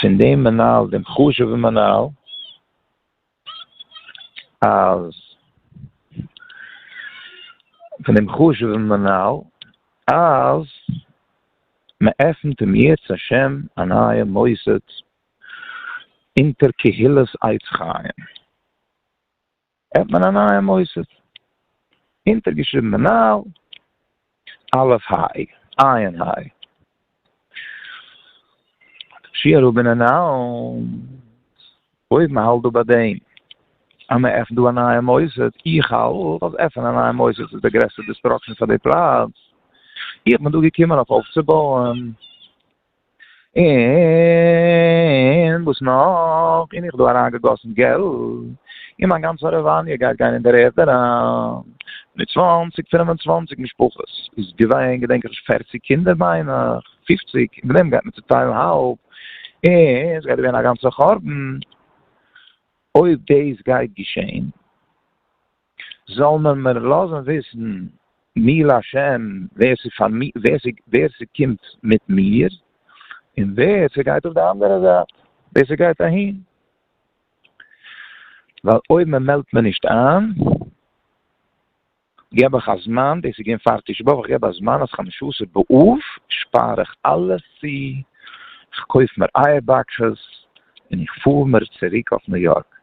S1: פון דעם מנהל דעם חשוב'ן מנהל אז פון דעם חשוב'ן מנהל אז מ'עפנט אם ירצה ה' א נייע מוסד אונטער קהילת עץ חיים. האט מען א נייע מוסד, אונטערגעשריבן מנהל, א' האי, עיין האי. שיער האבן אנאונסד, אויב מען האלט דא ביי דעם אז מען עפנט דא א נייע מוסד, איך האלט אז עפענען א נייע מוסד איז די גרעסטע דיסטראקשען פאר די פלאץ, איך בין דא געקומען אויף אויפצובויען. און וואס נאך? און איך דא אריין געגאסן געלט, און מיין גאנצע הארעוואניע גייט גיין אין דער ערד אריין, מיט צוואנציג פון און צוואנציג משפחות איז געווען געדענק איך פערציג קינדער מיין איך, פופציג, און דעם גייט מען צוטיילן האלב, און ס'גייט ווערן א גאנצע חורבן אויב דאס גייט געשען. זאל מען מיר לאזן וויסן מי להשם ווער ס'קומט מיט מיר און ווער ס'גייט אויף די אנדערע זייט, ווער ס'גייט אהין, ווייל אויב מען מעלדט מיר נישט איין געב איך א זמן, דאס איז געווען פאר תשעה באב, איך געב א זמן אז חמשה-עשר באב שפאר איך אלעס צו, איך קויף מיר אייער באקסעס און איך פאר מיר צוריק אויף ניו יארק.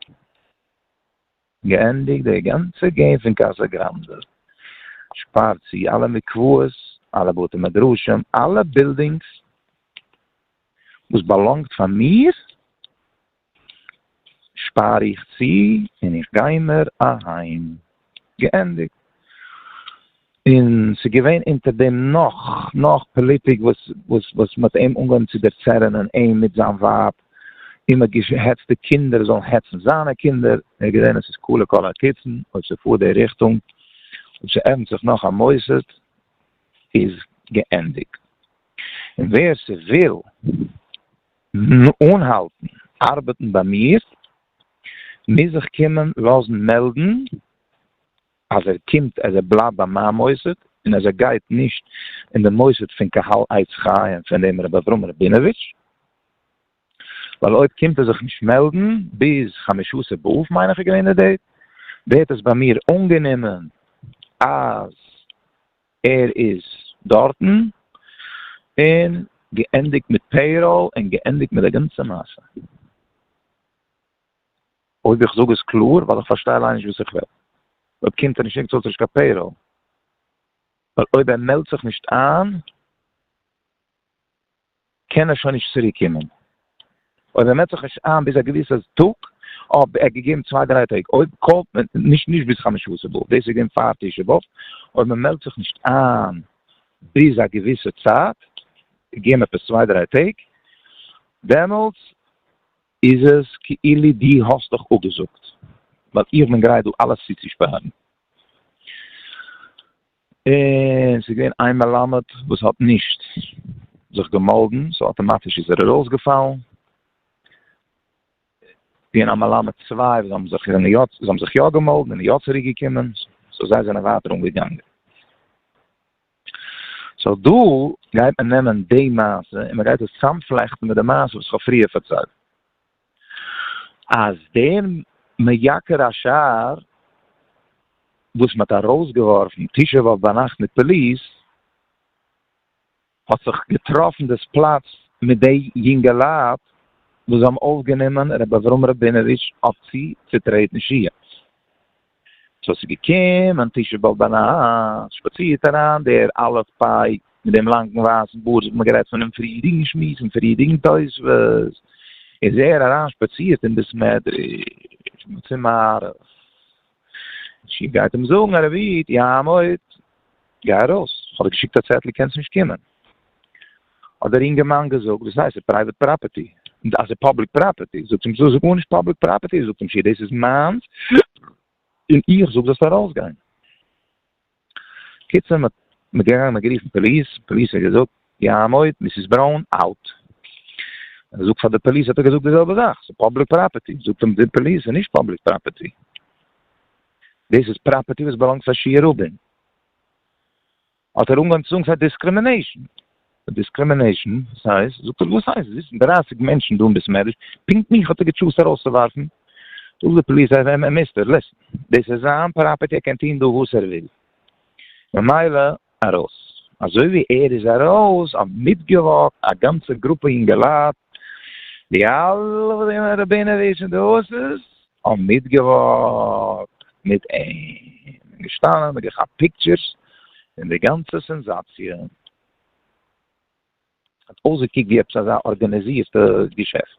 S1: געענדיגט די גאנצע געים פון קאסא גראנדע, שפארט צו אלע מקוואות, אלע בתי מדרשים, אלע בילדינגס וואס באלאנגט פאר מיר שפאר איך צו און איך גיי מיר אהיים. געענדיגט. און ס'איז געווען אונטער דעם נאך נאך פאליטיק וואס וואס וואס מ'האט אים אנגעהויבן צו דערצערענען אים מיט זיין ווייב, און מ'האט געהעצט די קינדער זאלן העצן זיינע קינדער, ער האט געזען עס איז כלה כל הקיצין, אויב ס'פארט די ריכטונג, אויב ס'עפנט זיך נאך א מוסד, איז געענדיגט. און ווער ס'וויל אנהאלטן ארבעטן ביי מיר, מוז זיך קומען לאזן מעלדן אז ער קומט אז ער בלייבט ביי מיין מוסד און אז ער גייט נישט אין די מוסד פון קהל עץ חיים פון דעם רבי אברהם ראבינאוויטש, ווייל אויב קומט ער זיך נישט מעלדן ביז חמשות באב מיין איך איז געווען די דעיט, ווערט עס ביי מיר אנגענומען אז ער איז דארטן, און געענדיגט מיט פעיראל און געענדיגט מיט די גאנצע מעשה. אויב איך זאג עס קלאר, ווייל איך פארשטיי אליין נישט וואס איך רעד. אויב קומט ער נישט ניצט אויס נישט קיין פעיראל. ווייל אויב ער מעלדט זיך נישט איין, קען ער שוין נישט צוריק קומען. אויב ער מעלדט זיך נישט איין ביז א געוויסע טאג, אויב ער געגעבן צוויי דריי טעג, אויב קאלט מען נישט נישט ביז חמשה עשר באב, דאס איז געווען פאר תשעה באב, אויב מען מעלדט זיך נישט איין ביז א געוויסע צייט, געגעבן עפעס צוויי דריי טעג, דעמאלטס איז עס כאילו דו האסט דיך אפגעזאגט, ווייל איך בין גרייט דא אלעס צוצושפארן. און ס'איז געווען איין מלמד וואס האט נישט זיך געמאלדן, סאו אטאמאטיש איז ער ארויסגעפאלן, און א מלמד צוויי וואס האבן זיך זענען יא זיי האבן זיך יא געמאלדן און יא צוריקגעקומען, סאו זיי זענען ווייטער אנגעגאנגען. סאו דא גייט מען נעמען די מעשה און מען גייט עס צאמפלעכטן מיט די מעשה וואס כ'האב פריער פארציילט אז דער מייקר השער וואס מען האט ארויסגעווארפן תשעה באב ביינאכט מיט פאליס האט זיך געטראפן דאס פלאץ מיט די יונגעלייט וואס זיי האבן אויפגענומען רבי אברהם ראבינאוויטש אויף צו צוטרעטן שיעור סאו ס'איז געקומען תשעה באב ביינאכט, שפאצירט אריין דער א' פיי מיט דעם לאנגן ווייסן בארד, ס'האט מען גערעדט פונעם פריערדיגן שמועס און פריערדיגן תוספות, איז ער אריין שפאצירט אין בית מדרש צום מהרז ל, גייט אים זאגן א רבי'ט יעמוד. גיי ארויס, איך האב דיר געשיקט א צעטל קענסט נישט קומען. האט דער אינגערמאן געזאגט, וואס הייסט? ס'איז פרייוועט פראפערטי. און אז ס'איז פאבליק פראפערטי? זאגט אים זאג גארנישט פאבליק פראפערטי, זאגט אים שיר דאס איז מיינס און איך זאג זאלסט ארויסגיין. קיצור מ'האט מ'איז געגאנגען מ'האט גערופן פאליס, פאליס האט געזאגט ים עוד, מיסיס בראון אוט. ער זאגט פאר די פאליס האט ער געזאגט די זעלבע זאך, ס'איז פאבליק פראפערטי, זאגט אים די פאליס ס'איז נישט פאבליק פראפערטי, דאס איז פראפערטי וואס באלאנגט פאר שיר רובין. האט ער אנגעהויבן צו זאגן ס'איז דיסקרימינעישאן. דיסקרימינעישאן? ס'הייסט? זאגט ער, וואס הייסט? זיצן דרייסיג מענטשן דא אין בית מדרש, פונקט מיך האט ער געטשוזט ארויסצואווארפן. זאגט די פאליס, העי העי מיסטער, ליסן, דאס איז זיין פראפערטי, ער קען טון דא וואס ער וויל. ממילא ארויס. אזוי ווי ער איז ארויס האט מיטגעוואקט א גאנצע גרופע אינגעלייט, די אלע וואס זעען רבינאוויטש און דאס איז האבן מיטגעוואקט מיט אים און געשטאנען און געכאפט פיקטשערס און די גאנצע סענזאציע האט אויסגעקוקט ווי עפעס אזא ארגאניזירטע געשעפט.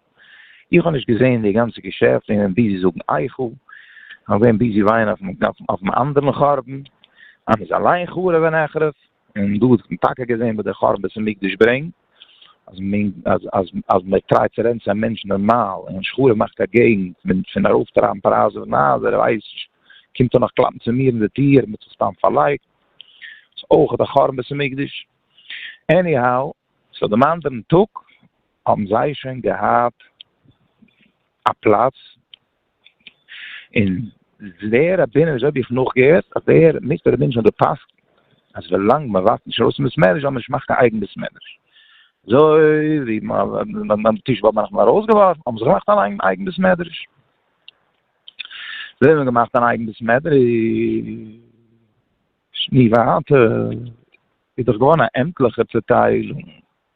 S1: איך האב נישט געזען די גאנצע געשעפט און געווען ביזי זאגן אייכו, כ'בין געווען ביזי ווייען אויפן אנדערן חרבן אז מ'איז אליין חרוב ונחרב. און דא האט מען טאקע געזען וואס דער חורבן בית המקדש ברענגט, אז מען אז אז אז מען טרייט צו רענטן א מענטש נארמאל, און שכור'ע מאכט א געגנט פון פון ארויפטרייבן פרייזן פון הייזער, ער ווייסט נישט, קומט ער נאך קלאפן צו מיר אין די טיר, מען האט זיך סתם פארלייגט, איז אויך א חורבן בית המקדש. עניהאו, סאו דעם אנדערן טאג האבן זיי שוין געהאט א פלאץ און דער רבי'ן וויאזוי האב איך נאכגעהערט אז דער מיסטער רבי'ן האט געפסק'נט אז ווילאנג מען ווארפט נישט ארויס אין בית המדרש זאל מען נישט מאכן קיין אייגן בית מדרש. אזוי ווי ביים תשעה באב האט מען ארויסגעווארפן האבן זיי געמאכט אן אייגן בית מדרש. זיי האבן געמאכט אן אייגן בית מדרש. נו ווייטער איז דאך געווארן א עמטליכע צעטיילונג.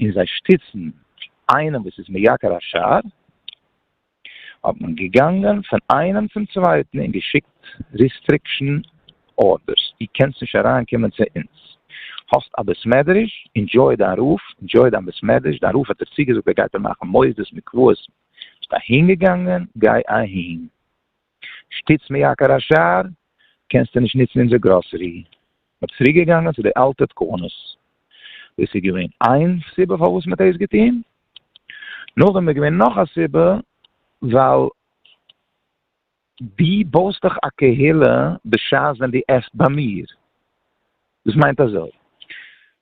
S1: און זיי שטיצן איינעם וואס איז מייקר השער, האט מען געגאנגען פון איינעם צום צווייטן און געשיקט ריסטריקשן ארדערס, דו קענסט נישט אריין קומען צו אונז, האסט א בית מדרש, ענדזשוי דיין רב, ענדזשוי דיין בית מדרש, דיין רב האט דיר צוגעזאגט ער גייט דיר מאכן מוסדות מקוואות, ביסט אהינגעגאנגען, גיי אהין. שטיץ מיר יקר השר, קענסטו נישט נוצן אונזער גראסערי. מ'האט צוריק געגאנגען צו די אלטע תקנות. דאס איז געווען איין סיבה פארוואס מ'האט דאס געטון. נאכדעם איז געווען נאך א סיבה, ווייל דו בויסט דאך א קהילה בשעת ווען דו עסט ביי מיר. דאס מיינט אזוי,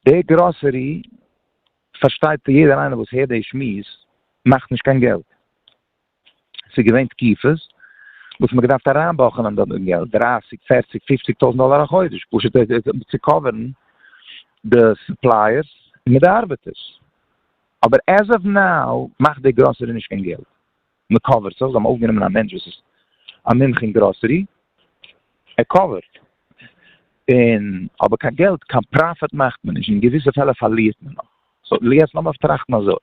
S1: די גראסערי, פארשטייט יעדער איינער וואס הערט די שמועס, מאכט נישט קיין געלט. ס'איז געווען תקופות וואס מ'האט געדארפט אריינבאכענען דארט דעם געלט, דרייסיג, פערציג, פופציג טויזנט דאלער א חודש, פשוט צו קאווערן די סופלייערס און מיט די ארבעטערס. אבער עז אוו נאו מאכט די גראסערי נישט קיין געלט, מ'קאווערט זיך, זיי האבן אויפגענומען א מענטש וואס איז א מומחה אין גראסערי, ער קאווערט, און אבער קיין געלט, קיין פראפיט מאכט מען נישט, אין געוויסע פעלער פארלירט מען נאך. סאו יעצט לאמיר טראכטן אזוי.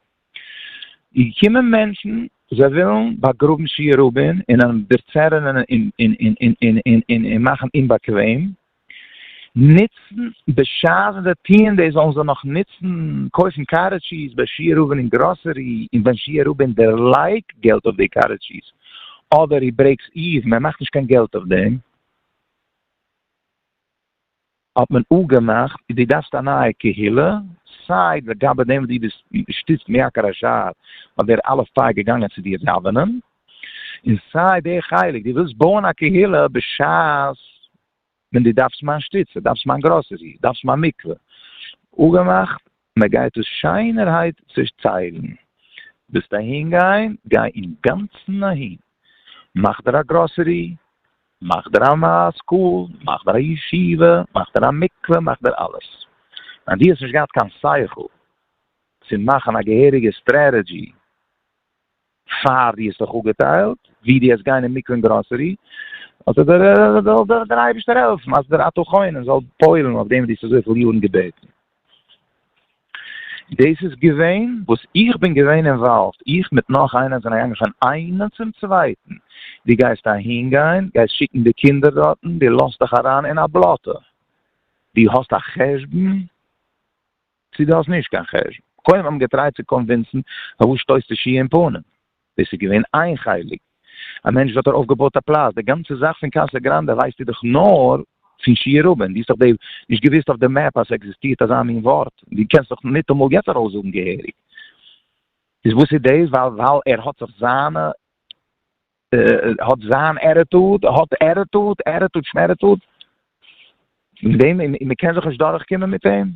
S1: איז געקומען מענטשן זיי ווילן באגראבן שי' רבין און אים דערצערענען און אים מאכן אומבאקוועם, נוצן בשעת ווען זיי טוען דאס זאלן זיי נאך נוצן קויפן קארעט טשיז ביי שי' רבין אין גראסערי און ווען שי' רבין דערלייגט געלט אויף די קארעט טשיז אדער הי ברעיקס איוון ער מאכט נישט קיין געלט אויף דעם. האט מען אפגעמאכט דו דארפסט א נייע קהילה, סיי לגבי דעם וואס דו ביסט געשטיצט מיעקר השער אז דער אלף פאר איז געגאנגען צו דיר דאווענען, און סיי די חלק דו ווילסט בויען א קהילה בשעת ווען דו דארפסט מיין שטיצע, דארפסט מיין גראסערי, דארפסט מיין מקווה, אפגעמאכט מען גייט עס שיינערהייט צעטיילן, ווילסט אהין גיין גיי אינגאנצן אהין, מאך דיר א גראסערי, מאך דיר א סקול, מאך דיר א ישיבה, מאך דיר א מקווה, מאך דיר אלעס, אז דו האסט נישט געהאט קיין שכל צו מאכן א געהעריגע סטרעטעדזשי פאר דו האסט זיך אפגעטיילט ווי דו האסט גיין אין מקווה און גראסערי, זאל דיר דער אייבערשטער העלפן אז דער אתה חונן זאל פועל'ן אויף דעם וואס דו האסט אזויפיל יארן געבעטן. דאס איז געווען וואס איך בין געווען אינוואלווד, איך מיט נאך איינער זענען געגאנגען פון איינעם צום צווייטן, דו גייסט אהין גיין, גייסט שיקן די קינדער דארטן, דו לאזט דיך אריין אין א בלאטע, דו האסט א חשבון? צו דו האסט נישט קיין חשבון. כהאב אים געטרייט צו קאנווינסן פאר וואס שטויסטו שי' אין פנים? דאס איז געווען איין חלק. א מענטש וואס האט ארויפגעבויט א פלאץ, די גאנצע זאך פון קאסא גראנדע ווייסטו דאך נאר פון שי' רבין, דו האסט דאך נישט געוואוסט אויף די מעפ אז ס'עקזיסטירט אזא מין ווארט, דו קענסט דאך ניטאמאל יעצט ארויסזאגן געהעריג. איז וואס איז דאס? ווייל ער האט זיך זיינע. האט זיין עטיטוד, ער האט עטיטוד, עטיטוד שמעטיטוד, מיט דעם, און מען קען זיך נישט דורך קומען מיט אים,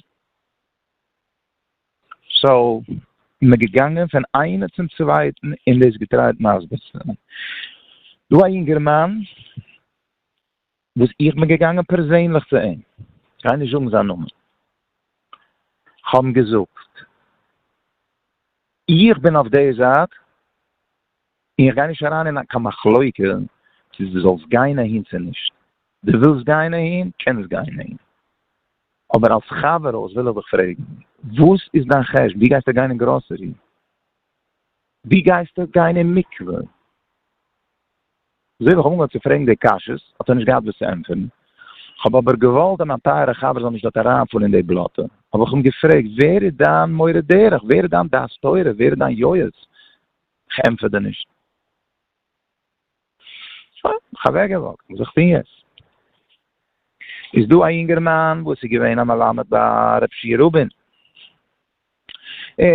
S1: סאו מען איז געגאנגען פון איינער צום צווייטן און דאס געטרייט מסביר צו זיין, דא א יונגערמאן וואס איך בין געגאנגען פערזענליך צו אים, כ'גיי נישט זאגן זיין נאמען, כ'האב אים געזאגט, איך בין אויף דער זייט, און איך גיי נישט אריין אין קיין מחלוקה צו דו זאלסט גיין אהין צו נישט, דו ווילסט גיין אהין, קענסט גיין אהין, אבער אלס חברה אויס וויל איך דיך פרעגן, וואס איז דיין חשבון, ווי גייסטו גיין אין גראסערי, ווי גייסטו גיין אין מקווה? זוי ווי איך האב אנגעהויבן צו פרעגן די קשיות, האט ער נישט געהאט וואס צו ענטפערן. כ'האב אבער געוואלט אז מיין טייערע חבר זאל נישט דארט אריינפאלן אין די בלאטע, האב איך אים געפרעגט, ווער איז דיין מורה דרך? ווער איז דיין דעת תורה? ווער איז דיין יועץ? כ'ענטפער דיר נישט. שוין, האב איך אוועקגעוואקט. וואס זאל איך טון יעצט? איז דא א יונגערמאן וואס איז געווען א מלמד ביי ר' שי' רובין. און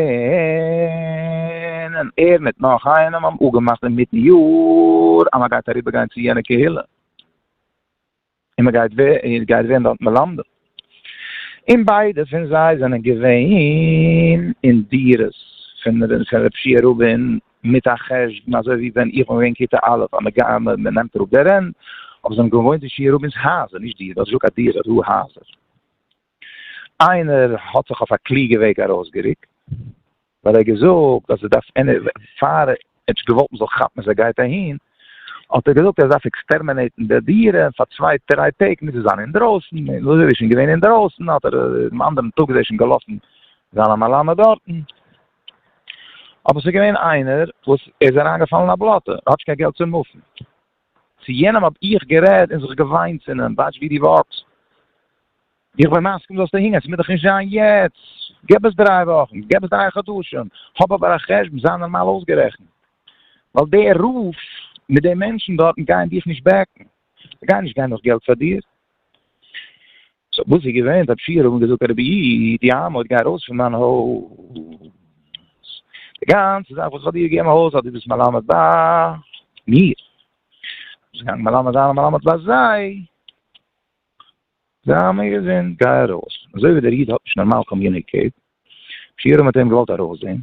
S1: ער מיט נאך איינעם האבן אפגעמאכט אינמיטן יאר אז מען גייט אריבער גיין צו יענע קהילה און מען גייט ווערן דארט מלמדים, און ביידע פון זיי זענען געווען אין דירות פון ר' שיע רובין מיט א חשבון אזוי ווי ווען איך בין געווען כיתה א' אז מען נעמט אראפ די רענט, אבער זיי האבן געוואוינט אין שיע רובין'ס הייזער, נישט דירות, ער האט געזאגט א דירה, ר ה הייזער. איינער האט זיך אויף א קלוגע וועג ארויסגערוקט, ווייל ער האט געזאגט אז עס דארף פאר עטש געוואלד מען זאל כאפן אז ער גייט אהין, האט ער געזאגט אז ער דארף עקסטערמענעיטן די דירה און פאר צוויי דריי טעג מוז ער זיין אינדרויסן, און וואס ער איז שוין געווען אינדרויסן האט ער דעם אנדערן טאג איז ער שוין געלאפן זיין א מלמד דארטן, אבער עס איז געווען איינער וואס ער איז אריינגעפאלן אין א בלאטע, ער האט נישט קיין געלט צו מופן. צו יענעם האָב איך גערעדט און זיך געוויינט צו אים, דײַטש, ווי דו װאָרטסט, איך בין מסכּים, זאָלסטו הינגערן, ס'מוז דאָך נישט זײַן יעצט, גיב עס דרײַ װאָכן, גיב עס דרײַ חדשים, האָב אָבער אַ חשבון, זײַ נאָרמאַל אויסגערעכנט, װײַל די רבֿ מיט די מענטשן דאָרטן גייען דיך נישט בעקן, זײ גייען נישט גיין נאָך געלט פֿאַר דיר. סאו וואס איז געווען זיי פיר האבן געזאגט רבי איד די אמה האט גיי ארויס פון מיין הויז די גאנצע זאך וואס איך האב דיר געגעבן הויז האט די ביסט מלמד ביי מיר ביסט געגאנגען מלמד זיין און מלמד ביי זיי זיי האבן מיר געזען גיי ארויס אזוי ווי דער איד האט נישט נארמאל קאמיוניקעיט שיעורים האט ער אים געוואלט ארויסזען,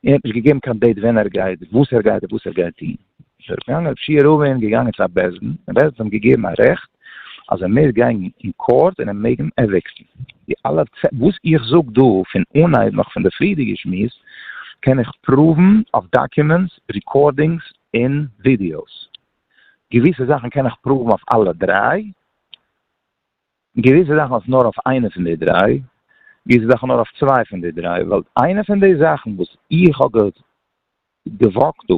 S1: ער האט נישט געגעבן קיין דעיט ווען ער גייט, וואס ער גייט און וואס ער גייט טון, איז ער געגאנגען ר' פשי' רובין געגאנגען צו א בית דין, און בית דין האט אים געגעבן א רעכט אז ער מעג גיין אין קאורט און ער מעג אים עוויקטן, די אלע וואס איך זאג דא פון אנהייב נאך פון די פריערדיגע שמועס קען איך פראוון אויף דאקומענטס, ריקארדינגס און ווידיאוס, געוויסע זאכן קען איך פראוון אויף אלע דריי. געוויסע זאכן אויף נאר אויף איינע פון די דריי, געוויסע זאכן נאר אויף צוויי פון די דריי, ווייל איינע פון די זאכן וואס איך האב געוואקט דא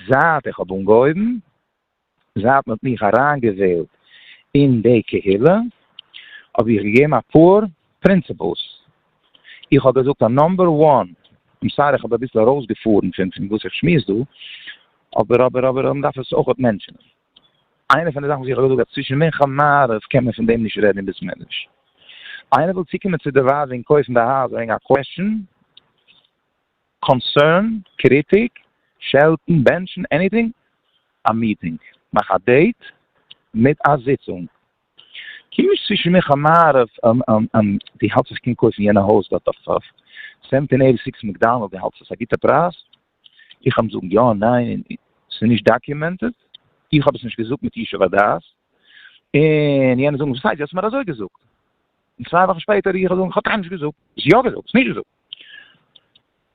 S1: זייט איך האב אנגעהויבן, זייט מ'האט מיך אריינגעוועלט אין די קהילה, האב איך געגעבן אפאר פרינציפלס, איך האב געזאגט א נאמבער וואן, איים סארי איך האב אביסל ארויסגעפארן פון וואס איך שמועס דא, אבער אבער אבער מ'דארף עס אויכעט מענטשענען. איינע פון די זאכן וואס איך האב געזאגט אז צווישן מנחה און מעריב קען מען פון דעם נישט רעדן אין בית מדרש. איינער וויל צוקומען צו די ווייב און קויפן די הויז וועגן א קוועשאן, קאנסערן, קריטיק, שעלטן, בענטשן, עניטינג? א מיטינג. מאך א דעיט מיט א זיצונג. קום נישט צווישן מנחה און מעריב און דו האלטסט איך קען קויפן יענע הויז דארט אויף סעווענטין עוו. סיקס מעקדאנעלד דו האלטסט עס א גוטע פרייז? איך האב זאגן יא ניין און ס'איז נישט דאקיומענטעד, איך האב עס נישט געזאגט מיט ישוב הדעת, און יענער זאגן וואס הייסט דו האסט מיר אזוי געזאגט, און צוויי וואכן שפעטער איך זאגן כ'האב קיינמאל נישט געזאגט, האסט יא געזאגט, האסט נישט געזאגט.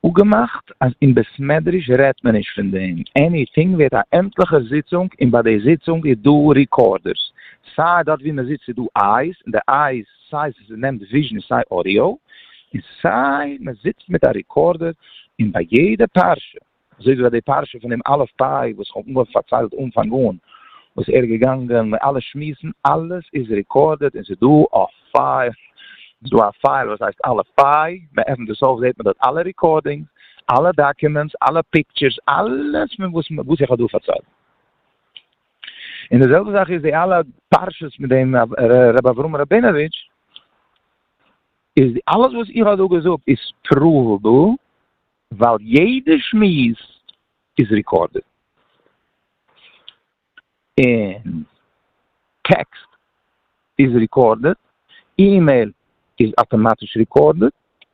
S1: אפגעמאכט אז אין בית מדרש רעדט מען נישט פון דעם, עניטינג ווערט א עמטליכע זיצונג און ביי די זיצונג איז דא ריקארדערס, סיי דארט ווי מ'זיצט איז דא אייז און די אייז סיי ס'איז נעמט וויזשען סיי אודיאו, און סיי מען זיצט מיט א ריקארדער און ביי יעדע פרשה, אזוי ווי ביי די פרשה פון דעם אלף פיי וואס כ'האב אנגעהויבן פארציילט אנפאנג אן, וואס ער איז געגאנגען מיט אלע שמועסן, אלעס איז ריקארדעד און ס'איז דא א פייל, ס'איז דא א פייל וואס הייסט אלף פיי, מען עפנט דאס אויף זעט מען דארט אלע ריקארדינגס, אלע דאקומענטס, אלע פיקטשערס, אלעס פון וואס איך האב דא פארציילט. און די זעלבע זאך איז די אלע פרשות מיט דעם רבי אברהם ראבינאוויטש, איז אלעס וואס איך האב דא געזאגט איז פראוועבל, ווייל יעדע שמועס איז ריקארדעד, און טעקסט איז ריקארדעד, אימעיל איז אטאמאטיש ריקארדעד,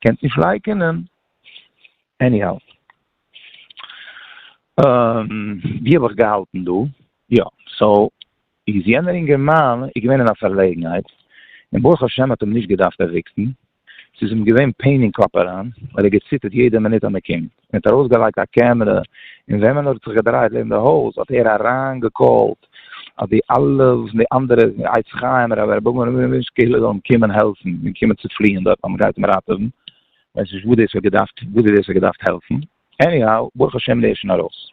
S1: קענסט נישט לייקענען. עניהאו. ווי האב איך געהאלטן דא? יא. סאו איז יענער אינגערמאן איז געווען אין א פארלעגנהייט, און ברוך השם האט אים נישט געדארפט עוויקטן, ס'איז אים געווען פעין אין קאפ אריין, ווייל ער האט געציטערט יעדע מינוט אז מ'קומט. מען האט ארויס געלייגט א קעמרע און וועמען ער האט זיך געדרייט לעבן די הויז האט ער אריין געקאלט אז די אלע פון די אנדערע עץ חיים רבי רבי אברהם רובינשטיין קהילה זאלן קומען העלפן און קומען צו פליען דארט אז מען גייט אים ראטעווען ווייס נישט וואס דאס האט געדארפט וואס דאס האט געדארפט העלפן עניהאו ברוך השם דער איז שוין ארויס.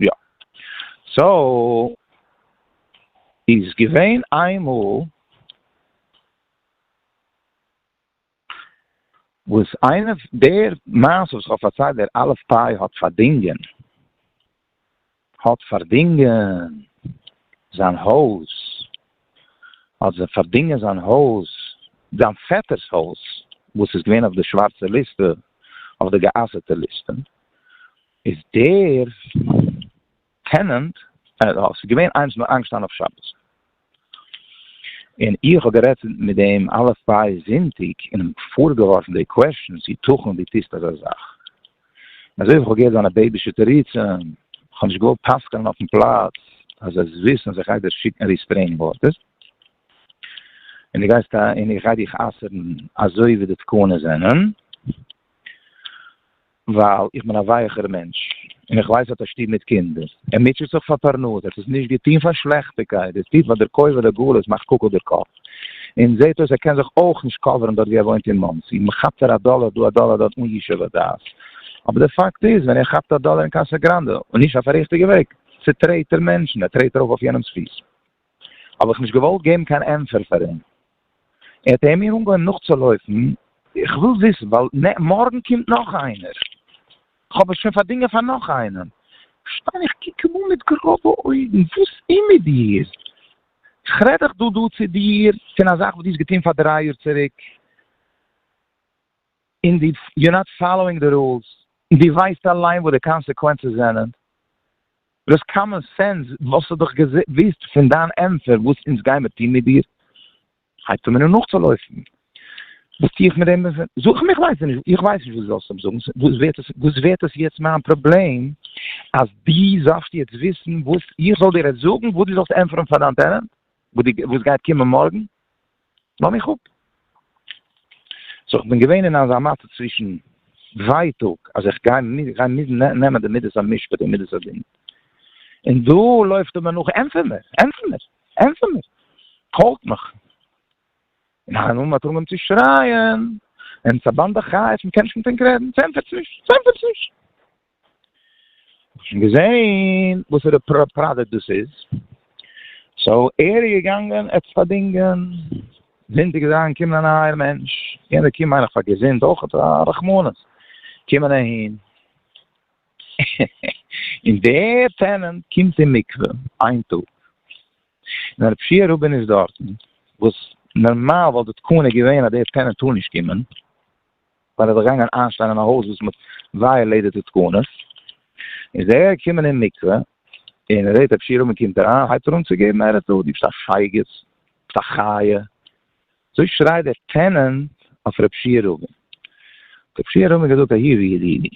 S1: יא. סאו איז געווען איינמאל וואס איינער, דער מעשה וואס כ'האב פארציילט דער א' פיי האט פארדינגען, האט פארדינגען זיין הויז, האט פארדינגען זיין הויז, זיין פעטער'ס הויז וואס איז געווען אויף די שווארצע ליסטע, אויף די גע'אסר'טע ליסטע, איז דער טענענט, ס'איז געווען איינס נאר איינגעשטאנען אויף שבת, און איך האב גערעדט מיט אים אלע פרייע זונטאג און אים פארגעווארפן די קוועשטשענס, יתכן דו טוסט אזא זאך? און אזוי ווי איך האב געהערט זיינע בעיבישע תירוצים, איך האב נישט געוואלט פסק'נען אויפן פלאץ, אז ער זאל וויסן אז איך גיי דיר שיקן ריסטרעינינג ארדערס, און דו גייסט און איך גיי דיך אסר'ן אזוי ווי די תקנות זענען. ווייל איך בין א ווייעכער מענטש, און איך ווייס ער האט א שטוב מיט קינדער, ער מוטשעט זיך פאר פרנסה, ער האט עס נישט געטוהן פאר שלעכטיגקייט, ער טוט ווייל דער כובע לגלות מאכט קאקל דער קאפ, און זעהט אויס ער קען זיך אויך נישט קאווערן דארט ווי ער וואוינט אין מאנסי, מען כאפט ער א דאלער דא א דאלער דארט אן ישוב הדעת, אבער דער פאקט איז ווען ער כאפט א דאלער אין קאסא גראנדע, און נישט אויף א ריכטיגע וועג, צוטרעט ער מענטשן, ער טרעט ארויף אויף יענעמס פיס. האב איך נישט געוואלט געבן קיין ענטפער פאר אים, און האט ער מיר אנגעהויבן נאכצולויפן, איך וויל וויסן ווייל מארגן קומט נאך איינער, כ'האב עס שוין פארדינגען פאר נאך איינעם, שטיין איך קוק אים אן מיט גראבע אויגן, וואס איז מיט דיר? כ'רעד דאך דא דא צו דיר פון א זאך וואס דו האסט געטון פאר דריי יאר צוריק. און די יו נאט פאלאווינג די רולס, און די ווייסט אליין וואס די קאנסעקווענצעס זענען, דו האסט קאמאן סענס, וואלסטו דאך געוויסט פון דיין ענטפער וואס אונז גיימער טון מיט דיר, הייבט אן מינוט נאכצולויפן, וואס טו איך מיט דעם, זאג מיך ווייסט נישט, איך ווייס נישט וואס דו זאלסט אים זאגן, וואס ווערט עס יעצט מיין פראבלעם אז דו זאלסט יעצט וויסן וואס איך זאל דיר עס זאגן, וואס דו זאלסט ענטפערן פאר דיין טענענט וואס גייט קומען מארגן? לאָז מיך אָפּ! סאָ כ'בין געווען אין אַזאַ מצב צווישן ווייטאָג, אַז איך גיי מוזן נעמען די מידת המשפּט און מידת הדין, און דאָ לויפט ער מיר נאָך, ענטפער מיר! ענטפער מיר! ענטפער מיר! קאָלט מיך! און איין מאָל מ'האָט אָנגעהויבן צו שרייען, און ס'אַ באַנדע חיות, מ'קען נישט מיט ענק רעדן, ס'ענטפערט זיך נישט! ס'ענטפערט זיך נישט! האסט שוין געזעהן וואסערע פראדוקט דאס איז? סאו ער איז געגאנגען עס פארדינגען, זינט ער איז אריינגעקומען א נייער מענטש, יענער קומט מיין איך פאר געזונט אויכעט, א רחמנות, קומען אהין, און דער טענענט קומט אין מקווה איין טאג, און הרב שיער רבין איז דארטן, וואס נארמאל וואלט די תקנה געווען אז דער טענענט טאר נישט קומען, ווייל ער איז געגאנגען איינשטיין אין א הויז וואס מ'האט ווייעלעיטעד די תקנות, איז ער געקומען אין מקווה, און ר' ר' שירל מען קומט אריין הייבט ער אן צו געבן הערה'ס דא, דו ביסט א שייגעץ, ביסט א חיה, אזוי שרייט דער טענענט אויף ר' שירל, האט ר' שירל מיר געזאגט אהי ווי ידידי,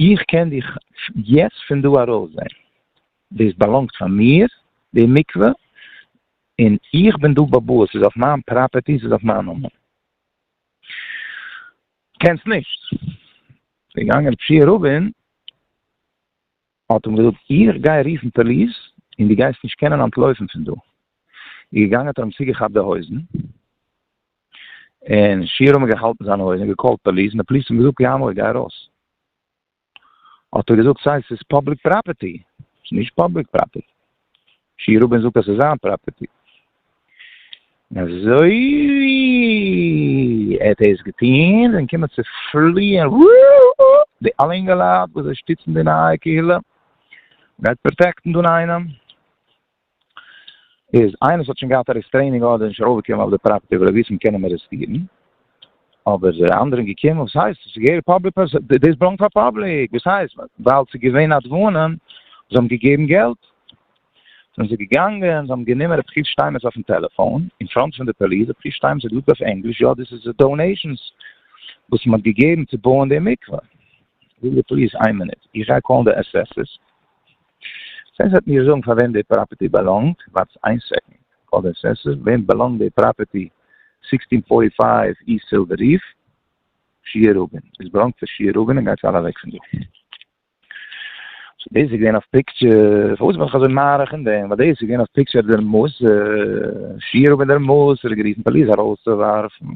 S1: איך קען דיך יעצט פון דא ארויס זען, דאס באלאנגט פאר מיר די מקווה, און איך בין דא באבוא, עס איז אויף מיין פראפערטי, עס איז אויף מיין נאמען. קענסט נישט. איז געגאנגען רב שיע רובין, האט אים געזאגט, איך גיי רופן פאליס, און דו גייסט נישט קענען אנטלויפן פון דא. איז געגאנגען האט ער אים צוגעכאפט די הויזן, און שיע רובין האט געהאלטן זיינע הויזן און געקאלט פאליס, און די פאליס האט אים געזאגט גיי אמאל, גיי ארויס. האט ער געזאגט סיי ס'איז פאבליק פראפערטי, ס'איז נישט פאבליק פראפערטי. שי' רובין זאגט אז ס'איז זיין פראפערטי. און אזוי ווי ער האט דאס געטון זענען געקומען צו פליען די אלע אינגעלייט וואס זיי שטיצן די נייע קהילה, גייט פראטעקטן דאן איינעם? איז איינער וואס האט שוין געהאט א ריסטרעינינג ארדער נישט ארויפגעקומען אויף די פראפערטי וויל ער וויסן קען אים ארעסטירן אבער די אנדערע איז געקומען וואס הייסט עס איז געהעריג פאבליק פערסאן דאס באלאנגט פאר פאבליק וואס הייסט ווייל ס'איז געווען א דברים זיי האבן געגעבן געלט זענען זיי געגאנגען, זיי האבן גענומען רב חיש שטיינמעץ אויפן טעלעפאון, אין פראנט פון די פאליס, רב חיש שטיינמעץ האט געזאגט אויף ענגליש, יא דאס איז די דאונעישאנס וואס מען האט געגעבן צו בויען די מקווה. זאג די פאליס, איין מינוט, איך גיי קאלן די עס עס עס, סעס וועט מיר זאגן פאר וועם די פראפערטי באלאנגט, ווארטס איין סעקאנד, קאלער סעס וועם באלאנגט די פראפערטי סיקסטין פארטי פייוו איסט סילווער ריף שיער רובין, עס באלאנגט פאר שיער רובין און גייטס אלע אוועק פון דא. סאו דאס איז געווען אויף פיקטשער, פארוואס בין איך אזוי מאריך אין דעם, ווייל דאס איז געווען אויף פיקטשער דער מוסר, שיער רובין דער מוסר האט גערופן פאליס ארויסצואווארפן.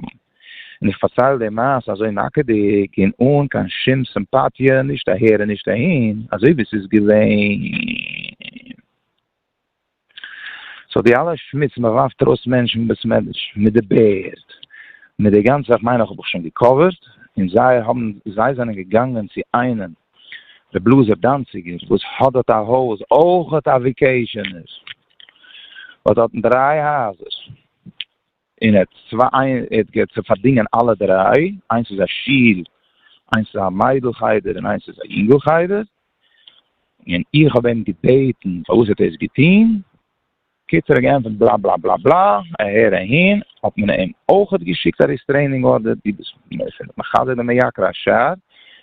S1: און איך פארצייל די מעשה אזוי נאקעדיג און אן קיין שום סימפאטיע נישט אהער און נישט אהין, אזוי ווי ס'איז געווען. סאו די אלע שמוץ מ'ווארפט ארויס מענטשן בסמעדרש מיט די בערד מיט די גאנצע איך מיין איך האב איך שוין געקאווערט, און זיי האבן זיי זענען געגאנגען צו איינעם ר' לאזער דאנציגער וואס האט דארט א הויז אויכעט א וויקעישענער וואס האט דריי הייזער. און ער האט צוויי, ער האט געהאט צו פארדינגען אלע דריי, איינס איז א שול, איינס איז א מיידל חדר און איינס איז א יונגל חדר, און איך האב אים געבעטן פארוואס ער האט דאס געטון, קיצור ער האט געענטפערט בלא בלא בלא בלא, אהער אהין, האט מען אים אויכעט געשיקט א ריסטרעינינג ארדער, דו ביסט מחדל ומעקר השער,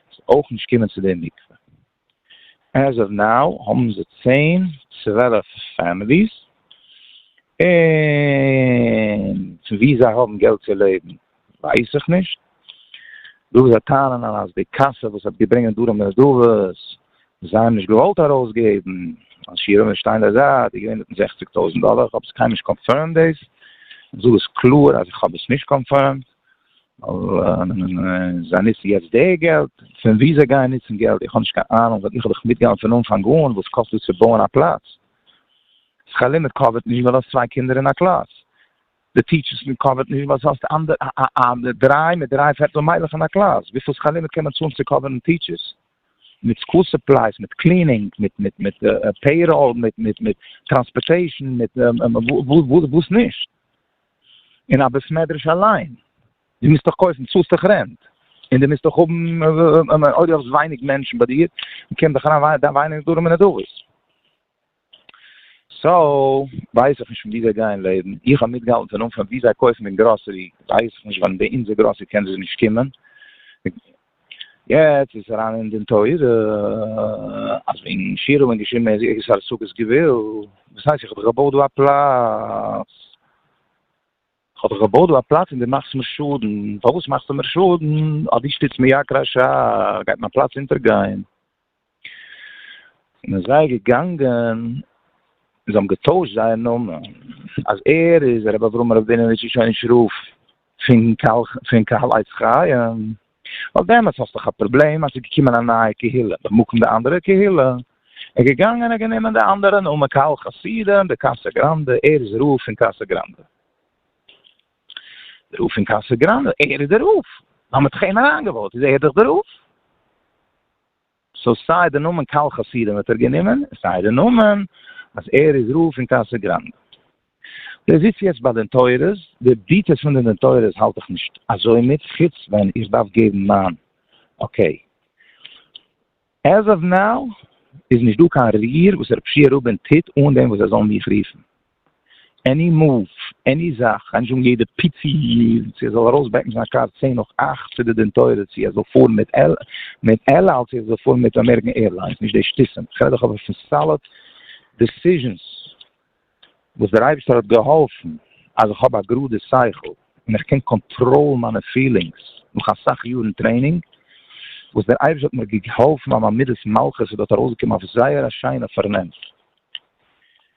S1: זאלסט אויך נישט קומען צו די מקווה. עז אוו נאו האבן זיי צען צוועלף פעמיליס און פון ווי זיי האבן געלט צו לעבן ווייס איך נישט, דא וואו זיי טענה'ן אז די קאסע וואס האט געברענגט דרום נדבות זיי האבן נישט געוואלט ארויסגעבן אז שיעור ווען שטיין די זייט איז געווען זעכציג טויזנט דאלער, כ'האב עס קיינמאל נישט קאנפירמד דאס, כ'זאג עס קלאר אז איך האב עס נישט קאנפירמד. זיי ניצן יעצט די געלט? פון וואו זיי גייען ניצן געלט? איך האב נישט קיין אהנונג, איך האב דאך מיטגעהאלטן פון אנפאנג אן וואס קאסט דאס צו בויען א פלאץ. סקאלער מיט קאווערט נישט ווייל האסט צוויי קינדער אין א קלאס, די טיטשערס מיט קאווערט נישט ווייל האסט דריי מיט דריי פערטל מיילעך אין א קלאס, וויפיל סקאלער מיט קען מען צאלן צו קאווערן טיטשערס? מיט סקול סופלייס, מיט קלינינג, מיט פעיראל, מיט טראנספארטעישן, מיט וואס נישט? אין א בית מדרש אליין, די מוזט דאך קויפן, צאלסט דאך רענט, און די מוזט דאך האבן, אויב די האסט ווייניג מענטשן ביי דיר, קומט דאך אריין ווייניג נדרים און נדבות. סאו, ווייס איך נישט פון ווי זיי גייען לעבן, איך האב מיטגעהאלטן פון אנפאנג ווי זיי קויפן אין גראסערי, ווייס איך נישט ווען ביי אונזער גראסערי קען זי נישט קומען, יעצט איז אריין אין דין תורה אז וועגן שירה האט מען געשריבן מען איז ערגעץ פאר סוכות געוועו, וואס הייסט איך האב דאך געבויט דא א פלאץ, איך האב דאך געבויט דא א פלאץ און דו מאכסט מיר שאדן, פארוואס מאכסטו מיר שאדן, אז דו שטיצט מיט יקר השעה גייט מיין פלאץ אונטערגיין. און איז זיי געגאנגען און זיי האבן געטוישט זייער נאמען אז ער איז הרב אברהם ראבינאוויטש איש האין שרוף פון קהל עץ חיים, ווייל דעמאלטס האסט דאך א פראבלעם אז ס'איז געקומען א נייע קהילה במקום די אנדערע קהילה, איז ער געגאנגען און האט גענומען די אנדערע נאמען קהל חסידים די קאסא גראנדע, ער איז רב פון קאסא גראנדע, רב פון קאסא גראנדע, ער איז דער רב, האבן מיט חן אריינגעוואוט, איז ער דאך דער רב. סאו סיי די נאמען קהל חסידים האט ער גענומען, סיי די נאמען אז ער איז רב פון קאסא גראנדע. דער זיצט יעצט ביי די נטוירס, די דיטעלס פון די נטוירס האלט איך נישט אזוי מיט, חוץ ווען איך דארף געבן מיין אקעי. עז אוו נאו איז נישט דא קיין ריר וואס רפשיע רובין טוט אן דעם וואס זיי זאלן מיך רופן. עני מאוו, עני זאך, איינער זאגן יעדע פיצי צו ער זאל ארויסבעקן זיין קאר צען נאך אכט צו די דענטוירע צו ער זאל פארן מיט על אל צו ער זאל פארן מיט אמעריקען עירליינס נישט די שטותים כ'רעד דאך אבער פון סאליד דעסיזשענס וואס דער אייבערשטער האט געהאלפן אז איך האב א גראדע שכל און איך קען קאנטראלן מיינע פילינגס נאך אסאך יארן טרעינינג וואס דער אייבערשטער האט מיר געהאלפן אז מיין מידת מלכות איז דארט ארויסגעקומען אויף זייער א שיינע פארנעם.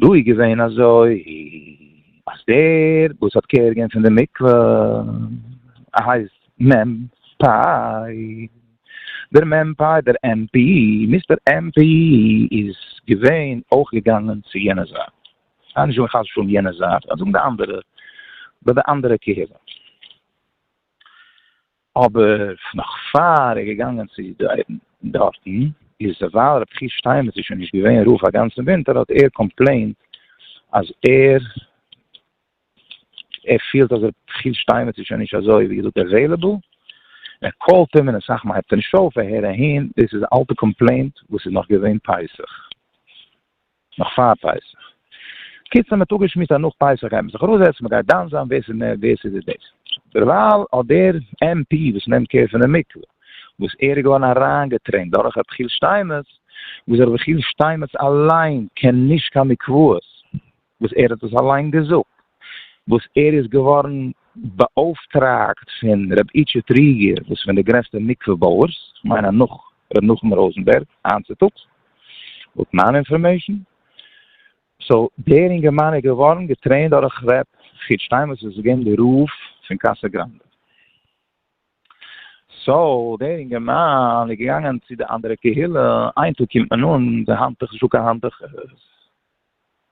S1: דא איז געווען אזוי אז דער וואס האט קער געהען פון די מקווה הייסט מ' פיי, דער מ' פיי דער עם פי, מיסטער עם פי איז געווען אויך געגאנגען צו יענע זייט, כ'גיי נישט זאגן חס ושלום יענע זייט, כ'גיי זאגן די אנדערע, ביי די אנדערע קהילה. אבער נאך פאר ער איז געגאנגען צו דייווען דארטן איז ווייל רבי חייא שטיינמעץ איז שוין נישט געווען רב א גאנצן ווינטער האט ער קאמפלעינט אז ער פילט אז רבי חייא שטיינמעץ איז שוין נישט אזוי ווי געזאגט עוועילעבל מען קאלט אים און אסאך מאל הייבט ער נישט אויף ער הער אהין דאס איז א אלטע קאמפלעינט וואס איז נאך געווען פסח. נאך פאר פסח. קיצער מען האט אפגעשמועסט אז נאך פסח גייט מען זיך אראפזעצן, מען גייט דן זיין ווער ס'איז מער ווער ס'איז דאס. דערווייל האט דער עמ פי וואס נעמט קער פון די מקווה, וואס ער איז געווארן אריינגעטרעינט דורך רבי חיל שטיינמעץ, וואס רבי חיל שטיינמעץ אליין קען נישט קיין מקוואות, וואס ער האט עס אליין געזאגט. וואס ער איז געווארן באויפטראגט פון ר' איטשע טריגער וואס איז פון די גרעסטע מקווה בויערס, כ'מיין אז נאך ר' נחום ראזענבערג היינט צוטאגס, לויט מיין אינפארמעישן. סאו דער אינגערמאן איז געווארן געטרעינט דורך ר' חוץ שטיין וואס איז געווען די רב פון קאסא גראנדע. סאו דער אינגערמאן איז געגאנגען צו די אנדערע קהילה, איין טאג קומט מען אן, די האנטוך איז נישטא קיין האנטוכעס.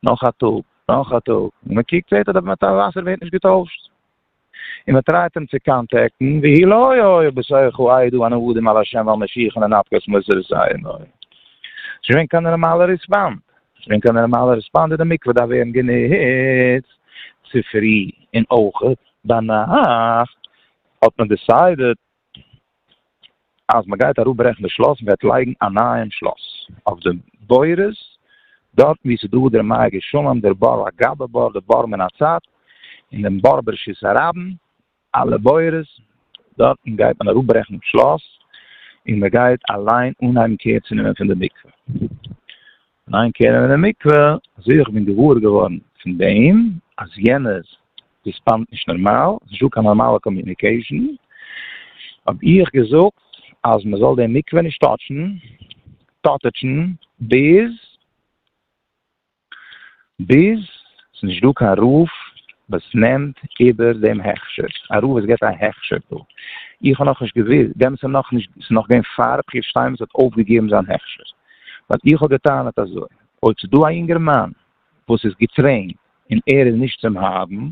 S1: נאך א טאג, נאך א טאג, און מען קוקט זעט אז די מעטאל וואסער ווערט נישט געטוישט, און מען טרייט אים צו קאנטעקטן, והי' לא היה עוד בסוחו עידו אנו עדים על ה' ועל משיחו לנפקת מוסר זיינא. ס'איז נישט געווען קיין נערמאלע ריספאנד, נישט געווען קיין נערמאלע ריספאנד, די מקווה דארף ווערן גענוצט צופרי און אויך ביינאכט, האט מען דיסיידעד אז מען גייט אראפ ברעכן די שלאס וועט לייגן א נייעם שלאס אויף די בורות דארטן ווי ס'איז דא דער מגי שלום דער באר הגבה באר די באר מן הצד און דעם באר בראשית הרבים אלע בורות דארטן גייט מען אראפ ברעכן די שלאס און מען גייט אליין אנהייבן קעיר צו נעמען פון די מקווה. ניין קענען אין די מקווה, אזוי ווי איך בין געוואר געווארן פון דעם אז יענער ריספאנדט נישט נארמאל, ס'איז נישטא קיין נארמאלע קאמיוניקעישן, האב איך געזאגט אז מען זאל דעם מקווה נישט טאטשן, טאטעטשן, ביז. ביז ס'נישט דא קיין רב וואס נעמט איבער דעם הכשר, א רב וואס געבט א הכשר דא, איך האב נאכנישט געוואוסט, דעמאלטס איז נאכנישט, ס'איז נאך געווען פאר ר' חייא שטיינמעץ האט אויפגעגעבן זיין הכשר, ווייל איך האב גע'טענה'ט אזוי, אויב ס'איז דא א יונגערמאן וואס איז געטרעינט און ער איז נישט צום האבן,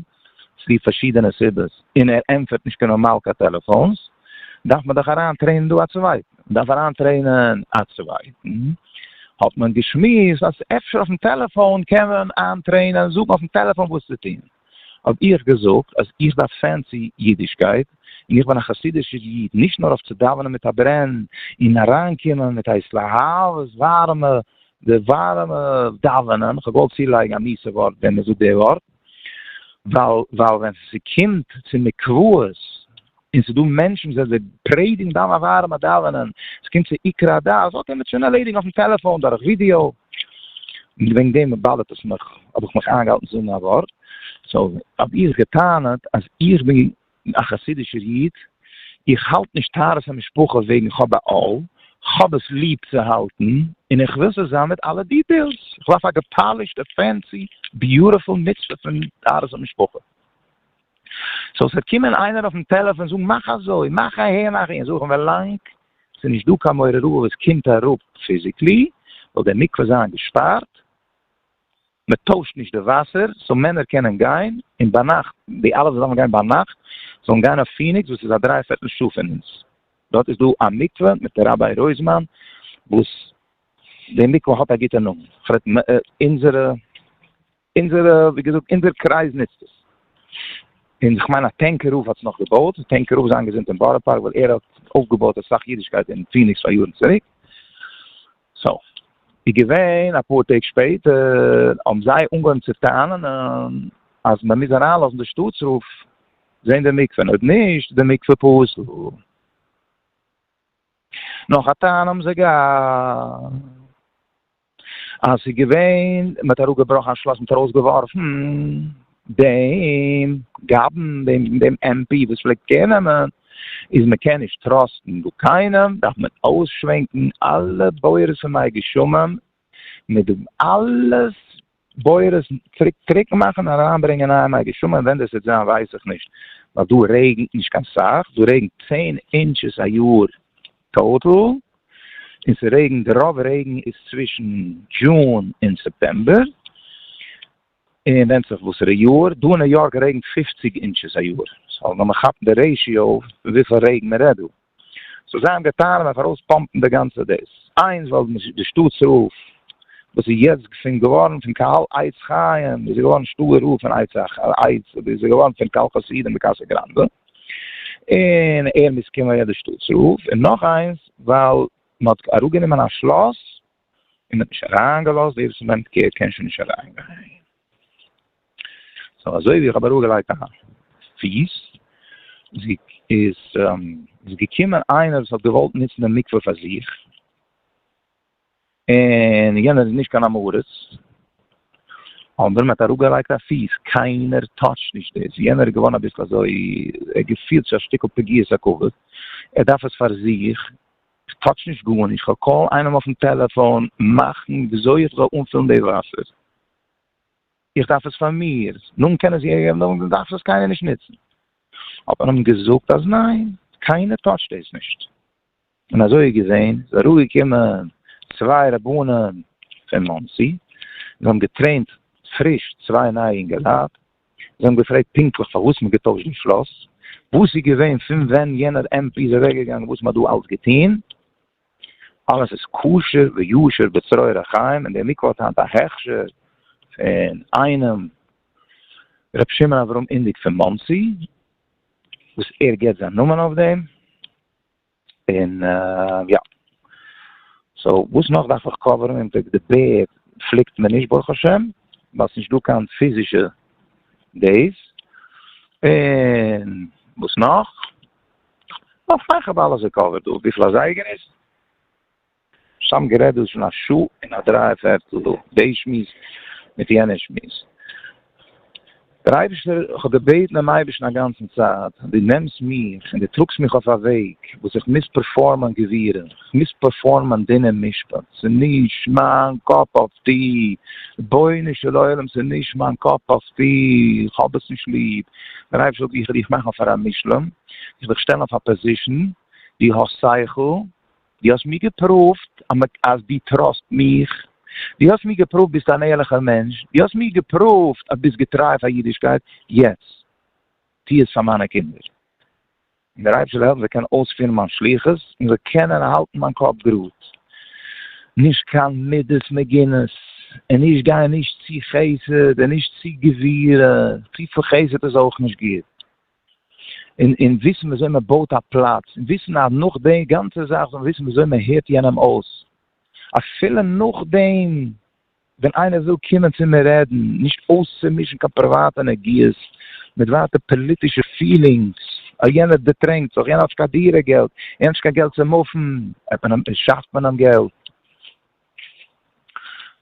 S1: צוליב פארשידענע סיבות, און ער ענטפערט נישט קיין נארמאל קיין טעלעפאונס, דארף מען דאך אריין טרעינען דא א צווייטן, מען דארף אריין טרעינען א צווייטן, האט מען געשמועסט אז אפשר אויפן טעלעפאון קען מען איין טרעינען, זאגן אויפן טעלעפאון וואס צו טון, האב איך געזאגט אז איך דארף פענסי אידישקייט, און איך בין א חסידישער איד, נישט נאר אויף צו דאווענען מיט א ברען, און אריין קומען מיט הייס להבות ווארעמע, די ווארעמע דאווענען, כ'האב געוואלט צולייגן א מיסע ווארט ווען מען זאגט די ווארט. ווייל ווייל ווען ס'קומט צו מקוואות און ס'איז דא מענטשן וואס זיי פרעדיגן דאן א ווארעמע דאווענען, ס'קומט צו עיקר הדת, אזוי קען מען שוין ערלעדיגן אויפן טעלעפאן דורך ווידיאו, און וועגן דעם באדערט עס מיך האב איך מיך איינגעהאלטן צו זאגן א ווארט, סאו האב איך גע'טענה'ט אז איך בין א חסידישער איד, איך האלט נישט טהרת המשפחה וועגן כ'האב א אל, כ'האב עס ליב צו האלטן און איך וויל ס'זאל זיין מיט אלע דיטעילס, כ'דארף א געפאלישטע פענסי ביוטעפול מצוה פון טהרת המשפחה, סאו ס'וועט קומען איינער אויפן טעלעפאן און זאגן מאך אזוי, מאך אהער מאך אהין, זאג איך אים ווילאנג ס'איז נישט דא קיין מעוררות וואס קומט אראפ פיזיקלי, זאל דער מקווה זיין געשפארט. מען טוישט נישט די וואסער, סאו מענער קענען גיין, און ביינאכט, די אלע וואס דארפן גיין ביינאכט, זאלן גיין אויף פיניקס וואס איז א דריי פערטל שעה פון אונז, דארט איז דא א מקווה מיט ראביי רויזמאן, וואס די מקווה האט א גוטע נאמען, כ'רעד אונזערע, אונזערע, ווי געזאגט אונזער קרייז נוצט עס, און איך מיין אז טענק רב האט עס נאך געבויט, טענק רב איז איינגעזינט אין בארא פארק ווייל ער האט אויפגעבויט אסאך אידישקייט אין פיניקס פאר יארן צוריק. סוף. איז געווען א פאר טעג שפעטער האבן זיי אנגעהויבן צו טענה'ן אז מען מוז אריינלאזן די שטאטס רב זעהן די מקווה און אויב נישט איז די מקווה פסול. נאך א טענה האבן זיי געהאט אז ס'איז געווען מען האט אראפגעבראכן א שלאס מען האט ארויסגעווארפן דעם גאבן דעם דעם עם פי וואס פלעגט קעיר נעמען איז מען קען נישט טראסטן דא קיינעם דארף מען אויסשווענקן אלע בורות פון מיי גשמים מיט די אלע בורות צוריק טרוקן מאכן אריין ברענגען נייע מיי גשמים ווען דאס וועט זיין ווייס איך נישט ווייל דא רעגנט נישט קיין סאך דא רעגנט צען אינטשעס א יאר טאטעל און ס'רעגנט רוב רעגן איז צווישן דזשון און סעפטעמבער און ווענדט זיך וואסערע יאר, דא אין ניו יארק רעגנט פֿופֿציק אינטשעס א יאר, סאו וועל מען כאפן די רעישיאו פון וויפיל רעגן מען רעדט דא, סאו זיי האבן געטאן אויף ארויס פאמפן די גאנצע דאס, איינס ווייל די שטאט'ס רוף וואס איז יעצט געפונט געווארן פון קהל עץ חיים איז געווארן שטאט רוף פון עץ איז געווארן פון קהל חסידים בקאסא גראנדע און ער מוז קומען ווער די שטאט'ס רוף, און נאך איינס ווייל מען האט אראפ גענומען א שלאס און האט נישט אריין געלאזט ווער עס מיינט קעיר קען שוין נישט אריין גיין סאו אזוי ווי איך האב אראפ געלייגט א פיס זי איז איז געקומען איינער וואס האט געוואלט ניצן די מקווה פאר זיך און יענער איז נישט קיין אמורץ אנדער מעט אראפ געלייגט א פיס קיינער טאטש נישט דאס יענער איז געווארן אביסל אזוי ער געפילט זיך א שטיקל פגיעת הכבוד ער דארף עס פאר זיך כ'טאטש נישט גארנישט, כ'וועל קאלן איינעם אויפן טעלעפאון מאכן וויאזוי איך זאל אנפילן די וואסער, איך דארף עס פאר מיר, נאכדעם קענען זיי איבערגעבן, נאכדעם דארף עס קיינער נישט נוצן. האט מען אים געזאגט אז ניין, קיינער טאטשט דאס נישט. און אזוי איז געווען, איז אראפגעקומען צוויי רבנים פון מאנסי, זיי האבן געטרעינט פריש צוויי נייע אינגעלייט, זיי האבן געפרעגט פונקטליך פארוואס מ'האט געטוישט די שלאס, וואס איז געווען פון ווען יענער עמ פ איז אוועקגעגאנגען וואס מ'האט דא אלץ געטון. אלעס איז כשר ויושר בצרור החיים און די מקווה האט היינט א הכשר פון איינעם ר' שמעון אברהם אינדיג פון מאנסי וואס ער געבט זיין נאמען אויף דעם. און יא. סאו וואס נאך דארף איך קאווערן און פונקט די בערד פליקט מען נישט ברוך השם ווייל ס'נישט דא קיין פיזישע דעיס און וואס נאך? נאך פאר איך האב אלעס געקאווערט דא וויפיל א זייגער איז? סתם גערעדט דאס איז שוין א שעה און א דריי פערטל דא, דעי שמועס מיט יענע שמועס. דער אייבערשטער, איך האב געבעטן דעם אייבערשטן א גאנצן צייט, דו נעמסט מיך און דו טראגסט מיך אויף א וועג וואס איך מוז פערפארמען גבירה, איך מוז פערפארמען דין און משפט, ס'איז נישט מיין קאפ אף טי, רבונו של עולם ס'איז נישט מיין קאפ אף טי, איך האב עס נישט ליב, דער אייבערשטער זאגט איך וועל דיך מאכן פאר א מושלם, איך וועל דיך שטעלן אויף א פאזישן, דו האסט שכל, דו האסט מיר געפראווט אז דו טראסט מיך, דו האסט מיר געפראווט ביסט אן ערליכער מענטש, דו האסט מיר געפראווט אז ביסט געטריי פאר אידישקייט, יעצט טו עס פאר מיינע קינדער, און דער אייבערשטער זאל העלפן זיי קענען אויספירן מיין שליחות, און איך זאל קענען האלטן מיין קאפ גראד, נישט קיין מידות מגינות, און נישט גיין נישט צו חסד און נישט צו גבורה, צופיל חסד איז אויך נישט גוט, און און וויסן וויאזוי מען בויט א פלאץ, און וויסן אז נאך די גאנצע זאך זאל מען וויסן וויאזוי מען הערט יענעם אויס, אפילו נאכדעם ווען איינער וויל קומען צו מיר רעדן, נישט אויסצומישן קיין פריוואטע נגיעות מיט ווייטע פאליטישע פילינגס, אה יענער דערטרענקט זיך, יענער האט נישט קיין דירה געלט, יענער האט נישט קיין געלט צו מופן, העט מען אים, שעפט מען אים געלט.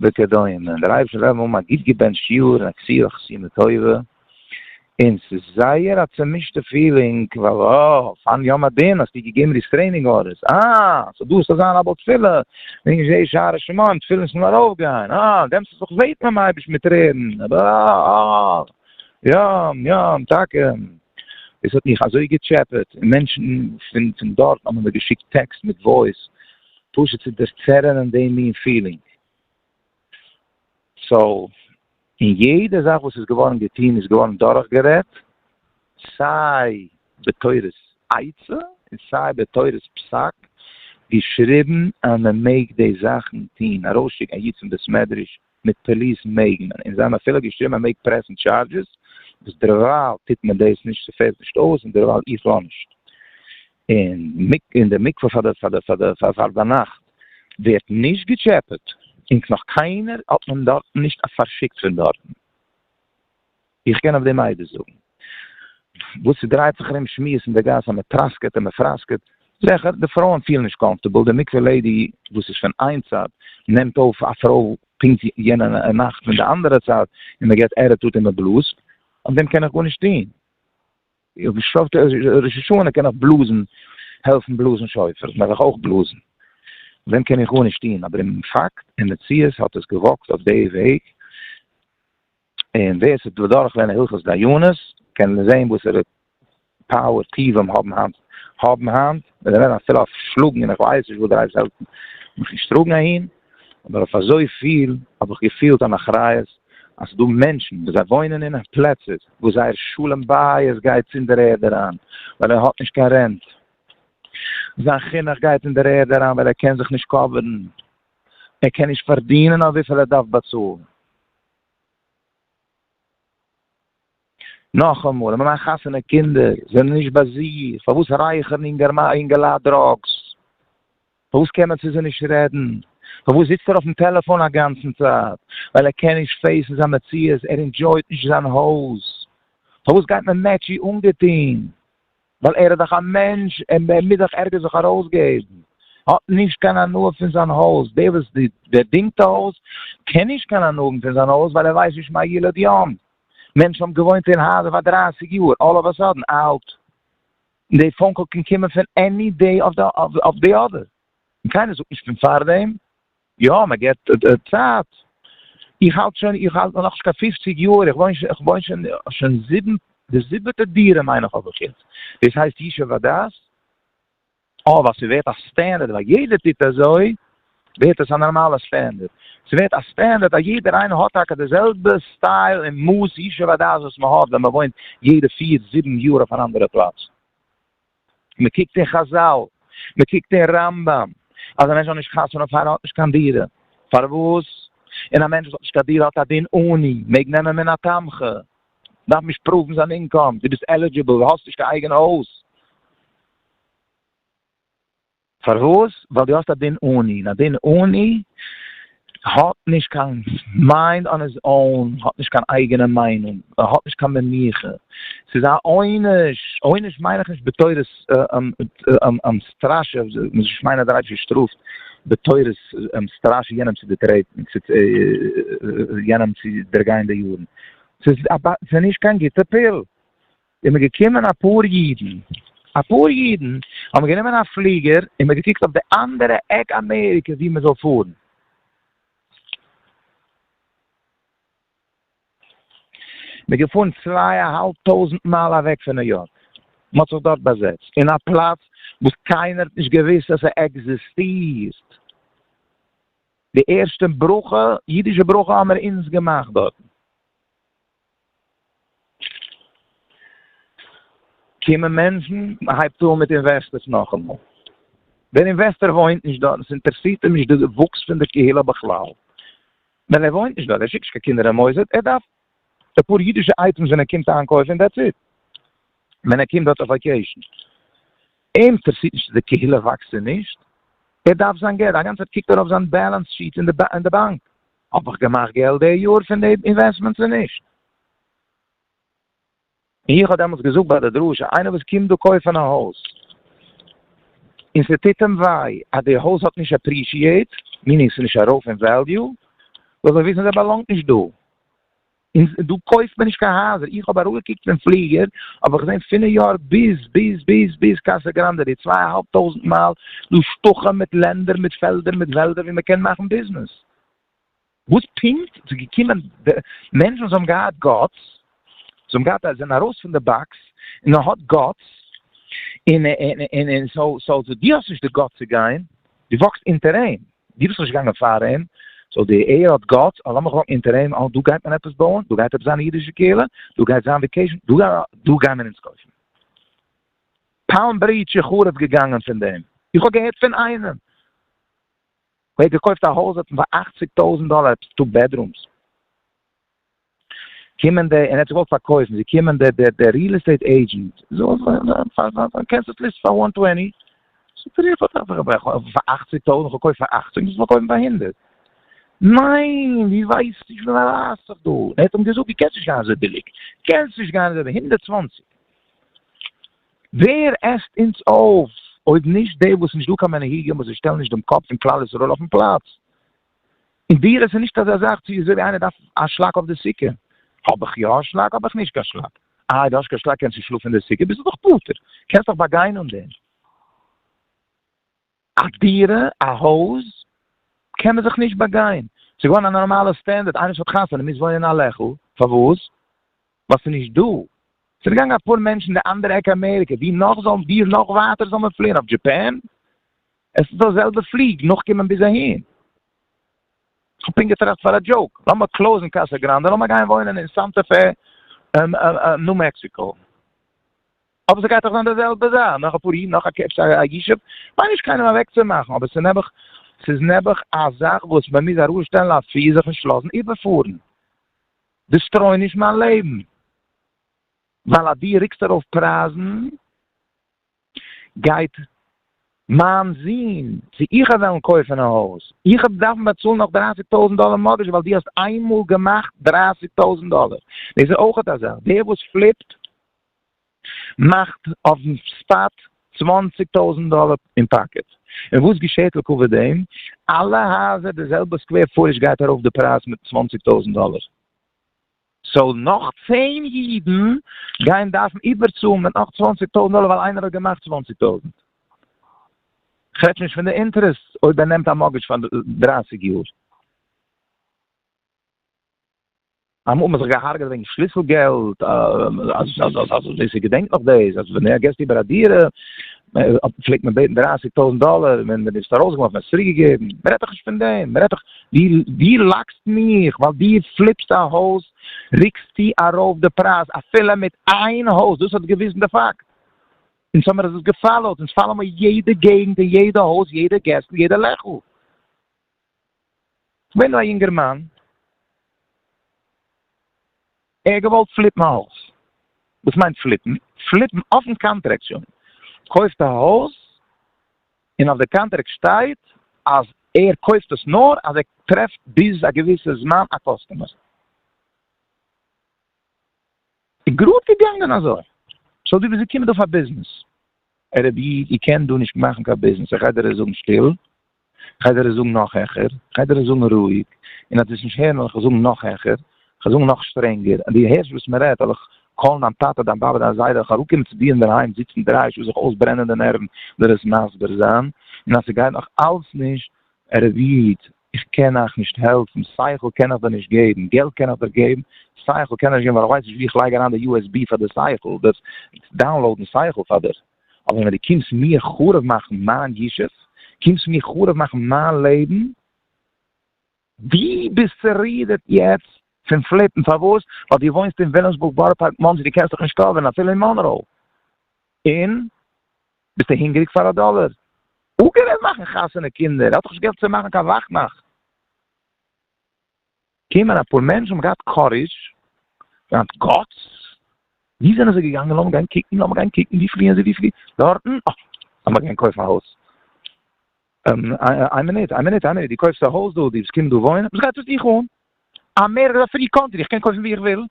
S1: וכדומה, די רייבערס לעבן האבן א גוט געבענטשט יאר און א כפירה אויף חתימה טובה, און ס'איז זייער א צומישטע פילינג ווייל אה, פארן יום הדין האסטו געגעבן ריסטרעינינג ארדערס, אה, סאו דו האסט צו זיין א בעל תפילה, נישט זיי שערי שמים, תפילין זאל ארויפגיין, אה, דעמאלטס האסטו זיך געבעטן ביים אייבערשטן מיט טרערן, אבער אה, אה, יום, יום, טאקע, דאס האט מיך אזוי געטשעפעט, און מענטשן פון דארטן האבן מיר געשיקט טעקסט מיט וואויס. פשוט צו דערצערענען דעם מין פילינג. סאו, און יעדע זאך וואס איז געווארן געטון איז געווארן דורכגערעדט, סיי בתורת עצה און סיי בתורת פסק, געשריבן אז מען מעג די זאכן טון, ארויסשיקן א איד פון בית מדרש מיט פאליס מעג מען, און זיי האבן אפילו געשריבן אז מען מעג פרעסן טשארדזשעס, וואס דערווייל טוט מען דאס נישט, ס'פעלט נישט אויס, און דערווייל איך לאנ נישט. און די מקווה פאר דיינאכט ווערט נישט געטשעפעט, און נאך קיינער האט מען דארטן נישט פארשיקט פון דארטן, איך קען אויף דעם אייביג זאגן וואס ס'דרייט זיך ארום שמועס אין די גאס אז מ'טראסקעט און מ'פראסקעט, זעכער די פרויען פילן נישט קאמפארטעבל, די מקווה לעידי וואס איז פון איין צד נעמט אויף א פרוי פונקט יענע נאכט פון די אנדערע צד און מ'געט ערעטאט און מ'בלאזט, אויף דעם קען איך גארנישט טון. איך האב געשלאפט ראש השנה קען איך בלאזן העלפן בלאזן שופר מעג איך אויך בלאזן ווען קען איך גארנישט טוהן אבער אין פאקט אין מציאות האט עס געוואקט אויף די וועג און ווער ס'איז בדרך לערנען הלכות דיינות קען זעהן וואסערע פאוער טיבים האבן היינט האבן היינט און זיי רעדן אפילו אויף שלאגן און איך ווייס נישט וואס דער אייבערשטער וועט מיך נישט טראגן אהין אבער אויף אזוי פיל האב איך געפילט אן אחריות אז ס'דא מענטשן וואס זיי וואוינען אין פלעצער וואס זייער שלום בית גייט אין דער ערד אריין ווייל ער האט נישט קיין רענט, זיין חינוך גייט אין דער ערד אריין ווייל ער קען זיך נישט קאווערן, ער קען נישט פארדינען אויף וויפיל ער דארף באצאלן. נאכאמאל, אין מיין חתונה קינדער זענען נישט ביי זיך, פארוואס רייכערן אינגעלייט דראגס? פארוואס קען מען צו זיי נישט רעדן? פארוואס זיצט ער אויפן טעלעפאן א גאנצן צייט? ווייל ער קען נישט פעיסן זיין מציאות, ער אינדזשויט נישט זיין הויז. פארוואס גייט מען מעטשי אנגעטוהן? ווייל ער איז דאך א מענטש, ער מוז דאך ערגעץ זיך ארויסגעבן. ער האט נישט קיין הנאה פון זיין הויז, דער וואס דינגט א הויז קען נישט קיין הנאה האבן פון זיין הויז ווייל ער ווייסט נישט מה ילד יום. מענטשן האבן געוואוינט אין הייזער פאר דרייסיג יאר, אלל אוו א סאדען אהלט די פאון קאל קען קומען פון עני דעי אוו די אדער, און קיינער זאגט נישט פון פארדעם, יא מען געבט צייט, איך האלט שוין איך האלט נאכנישט קיין פופציג יאר, איך וואוין איך וואוין שוין שוין זיבן די זיבעטע דירה מיין איך האב איך יעצט, דאס הייסט ישוב הדעת? אויב אז ס'ווערט א סטענדערט ווייל יעדער טוט אזוי, ווערט עס א נארמאלע סטענדערט. ס'ווערט א סטענדערט אז יעדער איינער האט טאקע די זעלבע סטייל און מאס ישוב הדעת וואס מ'האט ווען מ'וואוינט יעדע פיר זיבן יאר אויף אן אנדערע פלאץ. מ'קוקט אין חזל, מ'קוקט אין רמב ם, אז א מענטש זאל נישט חתונה פאר ער האט נישט קיין דירה. פארוואס? און א מענטש וואס האט נישט קיין דירה האט א דין עני, מעג נעמען מן התמחה, דארף נישט פראוון זיין אינקאם, דו ביסט עלידזשיבל, האסט נישט קיין אייגענע הויז. פארוואס? ווייל דו האסט א דין עני, און א דין עני האט נישט קיין מיינד אן היז און, האט נישט קיין אייגענע מיינונג, ער האט נישט קיין מנוחה, ס'איז א עונש, עונש מיין איך נישט בתורת סטראשע, איך מיין אז דער אייבישטער שטראפט בתורת סטראשע יענעם צו דערטרעטן, יענעם צו דערגיין די יארן, ס'איז נישט קיין גוטע פיל, איז מען געקומען אפאר אידן, אפאר אידן האבן גענומען א פליגער און מען געקוקט אויף די אנדערע עק אמעריקע וואו מען זאל פארן, מען איז געפארן צוויי א האלב טויזנט מייל אוועק פון ניו יארק, מען האט זיך דארט באזעצט אין א פלאץ וואס קיינער האט נישט געוואוסט אז ס'עקזיסטירט, די ערשטע ברכה, אידישע ברכה האבן מיר אונז געמאכט דארטן. קומען מענטשן, מען הייבט אן מיט אינוועסטערס נאכאמאל, דער אינוועסטער וואוינט נישט דארט, עס אינטערעסירט אים נישט די וואוקס פון די קהילה בכלל, ווייל ער וואוינט נישט דארט, ער שיקט נישט קיין קינדער אין מוסד, ער דארף די פאר אידישע אייטעמס ווען ער קומט איינקויפן און דעטס איט, ווען ער קומט דארט אויף וואקעישן, אים אינטערעסירט נישט צו די קהילה וואקסט צו נישט, ער דארף זיין געלט, א גאנצע צייט קוקט ער אויף זיין בעלענס שיעט אין די באנק. האב איך געמאכט געלט די יאר פון די אינוועסטמענט צו נישט? איך האב דעמאלטס געזאגט ביי די דרשה, איינער וואס קומט דא קויפן א הויז, און ס'טוט אים וויי אז די הויז האט נישט עפרישיעט, מיענינג ס'איז נישט ארויף אין וועליו, זאל זיי וויסן זיי באלאנגט נישט דא. און דא קויפט מען נישט קיין הייזער, איך האב אראפגעקוקט פון פליגער האב איך געזען פון ניו יארק ביז ביז ביז ביז קאסא גראנדע די צוויי אהאלב טויזענט מייל, דא שטחים מיט לענדער מיט פעלדער מיט וועלדער ווי מען קען מאכן ביזנעס, וואס פונקט איז געקומען די מענטשן וואס האבן געהאט גאטס, וואס האבן געהאט א זענען ארויס פון די באקס און מען האט גאטס, און און און און סאו סאו דו האסט נישט די גאטס צו גיין, דו וואקסט אונטער אים. דו ביסט נישט געגאנגען פאר אים, סאו די עיר האט גאטס, אז לאמיך האקן אונטער אים, אה דא גייט מען עפעס בויען, דא גייט עפעס זיין א אידישע קהילה, דא גייט זיין וועקעישן, דא גיימער אונז קויפן פאלם ברידזש, איך חרוב געגאנגען פון דעם, איך האב געהערט פון איינעם ווער האט געקויפט א הויז האט פאר אַכציק טויזענט דאלער עפעס טו בעדרומס. קומען די, און ער האט זיך געוואלט פארקויפן, זי קומען די די די ריעל עסטעיט עידזשענט, קענסט דאס ליסטן פאר וואן טווענטי? זאגט ער, איך האב דאך א פאר אכציג טויזנט, איך האב געקויפט פאר אכציג, מוז פארקויפן פאר הונדערט, ניין, ווי ווייסטו, איך בין א רייסער דא, ער האט אים געזאגט, דו קענסט נישט גיין אזוי ביליג, קענסט נישט גיין אזוי ביליג, הונדערט צוואנציג, ווער עסט אונז אויף אויב נישט די וואס נישט דא קיין מנהיגים וואס זיי שטעלן נישט דעם קאפ פון כלל ישראל אויפן פלאץ. אין דירות איז נישט אזא זאך צו אזוי ווי איינער דארף א שלאק אויף די סוכה, האב איך יא א שלאק האב איך נישט קיין שלאק, איי די האסט קיין שלאק קענסטו שלאפן אין די סוכה ביסטו דאך פטור, קענסט דאך באגיין אן דעם. א דירה א הויז קען מען זיך נישט באגיין, ס'איז געווארן א נארמאלע סטענדערד איינער וואס האט חתונה מוז וואוינען אין א לעכל, פארוואס? ווייל ס'איז נישט דא. ס'איז געגאנגען אפאר מענטשן די אנדערע עק אמעריקע, ווי נאך זאלן ווי נאך ווייטער זאל מען פליען? אויף דזשעפען? עס איז דא זעלבע פליג נאכקומען ביז אהין. כ'האב פונקט געטראכט פאר א דזשאוק, לאמער קלאוזן קאסא גראנדע, לאמער גיין וואוינען אין סאנטא פע, ניו מעקסיקא. אבער ס'גייט דאך זיין די זעלבע זאך, נאך אפאר יאר, נאך א קעפ א ישוב, מיין נישט קיינעם אוועקצומאכן, אבער ס'איז נעבעך, ס'איז נעבעך א זאך וואס מען מוז ארויסשטעלן א פיר זיך נישט לאזן איבערפארן. דיסטרויען נישט מיין לעבן, ווייל אז דו רוקסט ארויף פרייזן גייט מיין זון צו איך וועלן קויפן א הויז, איך וועל דארפן באצאלן נאך דרייסיג טויזנט דאלער מארטגעדזש ווייל דו האסט איינמאל געמאכט דרייסיג טויזנט דאלער, דאס איז אויך אזא זאך, דער וואס פליפט מאכט אויפן ספאט צוואנציג טויזענט דאלער אין פאקעט, און וואס געשעהט לעקאווע דעם? אלע הייזער די זעלבע סקווער פוטעזש גייט ארויף די פרייז מיט צוואנציג טויזענט דאלער, סאו נאך צען אידן גייען דארפן איבערצאלן מיט נאך צוואנציג טויזענט דאלער ווייל איינער האט געמאכט צוואנציג טויזענט, כ'רעדט שוין נישט פון די אינטערעסט אויב ער נעמט א מארגעדזש פאר דרייסיג יאר. אמאל האט מען זיך געהארגעט וועגן שליסל געלט, אזוי ס'איז געדענקט נאך דאס אז ווען געסט איבער א דירה פלעגט מען בעטן דרייסיג טויזענט דאלער און ווען די ביסט ארויס געלאפן האסט צוריק געגעבן, מען רעדט דאך נישט פון דעם, מען רעדט דאך דו לאקסט מיך ווייל דו פליפסט א הויז ריקסטו ארויף די פרייז אפילו מיט איין הויז, דאס האט געוויזן די פאקט אונז האמיר עס געפאלאוט, אונז פאלאו מיר יעדע געגענט און יעדע הויז יעדע געסל יעדע לעכל. כ'בין דא א יונגערמאן, ער האט געוואלט פליפן א הויז, וואס מיינט פליפן? פליפן אויפן קאנטרעקט שוין, קויפט א הויז און אויף די קאנטרעקט שטייט אז ער קויפט עס נאר אז ער טרעפט ביז א געוויסע זמן א קאסטומער. איז גראד געגאנגען אזוי. סאו דו ביסט געקומען דא פאר ביזנעס? ערעב איד, איר קענט דא נישט מאכן קיין ביזנעס, איך גיי דיר עס זאגן שטיל, איך גיי דיר עס זאגן נאך העכער, איך גיי דיר עס זאגן רואיג, און אז דו וועסט נישט הערן וועל איך עס זאגן נאך העכער, איך וועל זאגן נאך שטרענגער, אז דו הערסט וואס מען רעדט וועל איך קאלן דיין טאטע, דיין באבע, דיין זיידע, וועל איך אראפקומען צו דיר אינדערהיים זיצן דרײַ שעה זיך אויסברענען די נערוון דיר עס מסביר זיין, און אז ס'גייט נאך אלץ נישט, ערעב איד, איך קען אייך נישט העלפן, שכל קען איך דיר נישט געבן, געלט קען איך דיר געבן, שכל קען איך נישט געבן ווייל איך ווייס נישט ווי איך לייג אריין די usb פאר די שכל, דאס דאונלאודן שכל פאר דיר, אבער ווען דו קומסט מיר חרוב מאכן מיין ישוב, קומסט מיר חרוב מאכן מיין לעבן, דו ביסט צורידערט יעצט פון פליפן, פארוואס? ווייל דו וואוינסט אין וויליאמסבורג בארא פארק מאנסי, דו קענסט דיך נישט קאווערן אפילו אין מאנראו, און. ביסטו הונגעריג פאר א דאלער? וואו קען ער מאכן חתונה קינדער? ער האט דאך נישט געלט צו מאכן קיין וואכנאכט. קומען אפאר מענטשן האבן געהאט קאריזש, געהאט גאטס, וואו זענען זיי געגאנגען? לאמיר גיין קוקן, לאמיר גיין קוקן, וואו פליען זיי? וואו פליען זיי? דארטן? אה! לאמיר גיין קויפן א הויז. איין מינוט, איין מינוט, איין מינוט, דו קויפסט א הויז דא, דו וועסט קומען דא וואוינען? וואס גייט עס דיך אן? אמעריקע איז א פרי קאנטרי, איך קען קויפן וואו איך וויל,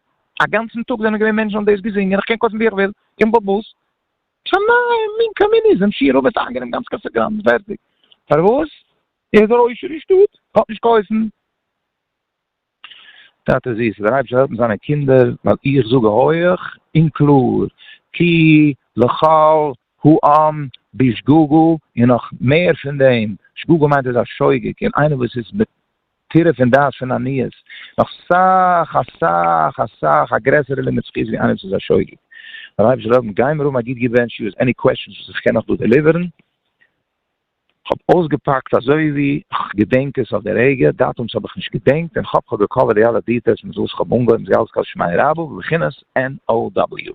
S1: א גאנצן טאג זענען געווען מענטשן האבן דאס געזינגען, איך קען קויפן וואו איך וויל, איך בין באבוס, שמים מין קאמיניזם שיער אבער האט איינגענומען גאנץ קאסא גראנדע פערטיג פארוואס ער איז דער עושר אין שטאט האט נישט געהויפן. טאטע זיסער, דער אייבערשטער העלפט זיינע קינדער, ווייל איך זאג הויעך און קלאר, כי לכל העם בשגגה, און נאך מער פון דעם, שגגה מיינט ער איז א שוגג, און איינער וואס איז תירץ און דעת פון עניות, נאך סאך א סאך א סאך א גרעסערע לימוד זכות ווי עניות איז א שוגג. דער אייבערשטער זאל האבן גיימער האבן א גוט געווענטש יו עס עני קוועשאנס וואס איך קען נאך דא דעליווערן. כ'האב אויסגעפאקט אזוי ווי כ'געדענק עס אויף די רגע, דאטומס האב איך נישט געדענקט, און חאפ כ'האב געקאווערט די אלע דיטעלס מיט וואס כ'האב אנגעהויבן זיי אלץ כל שמיה רבא בבחינת NOW.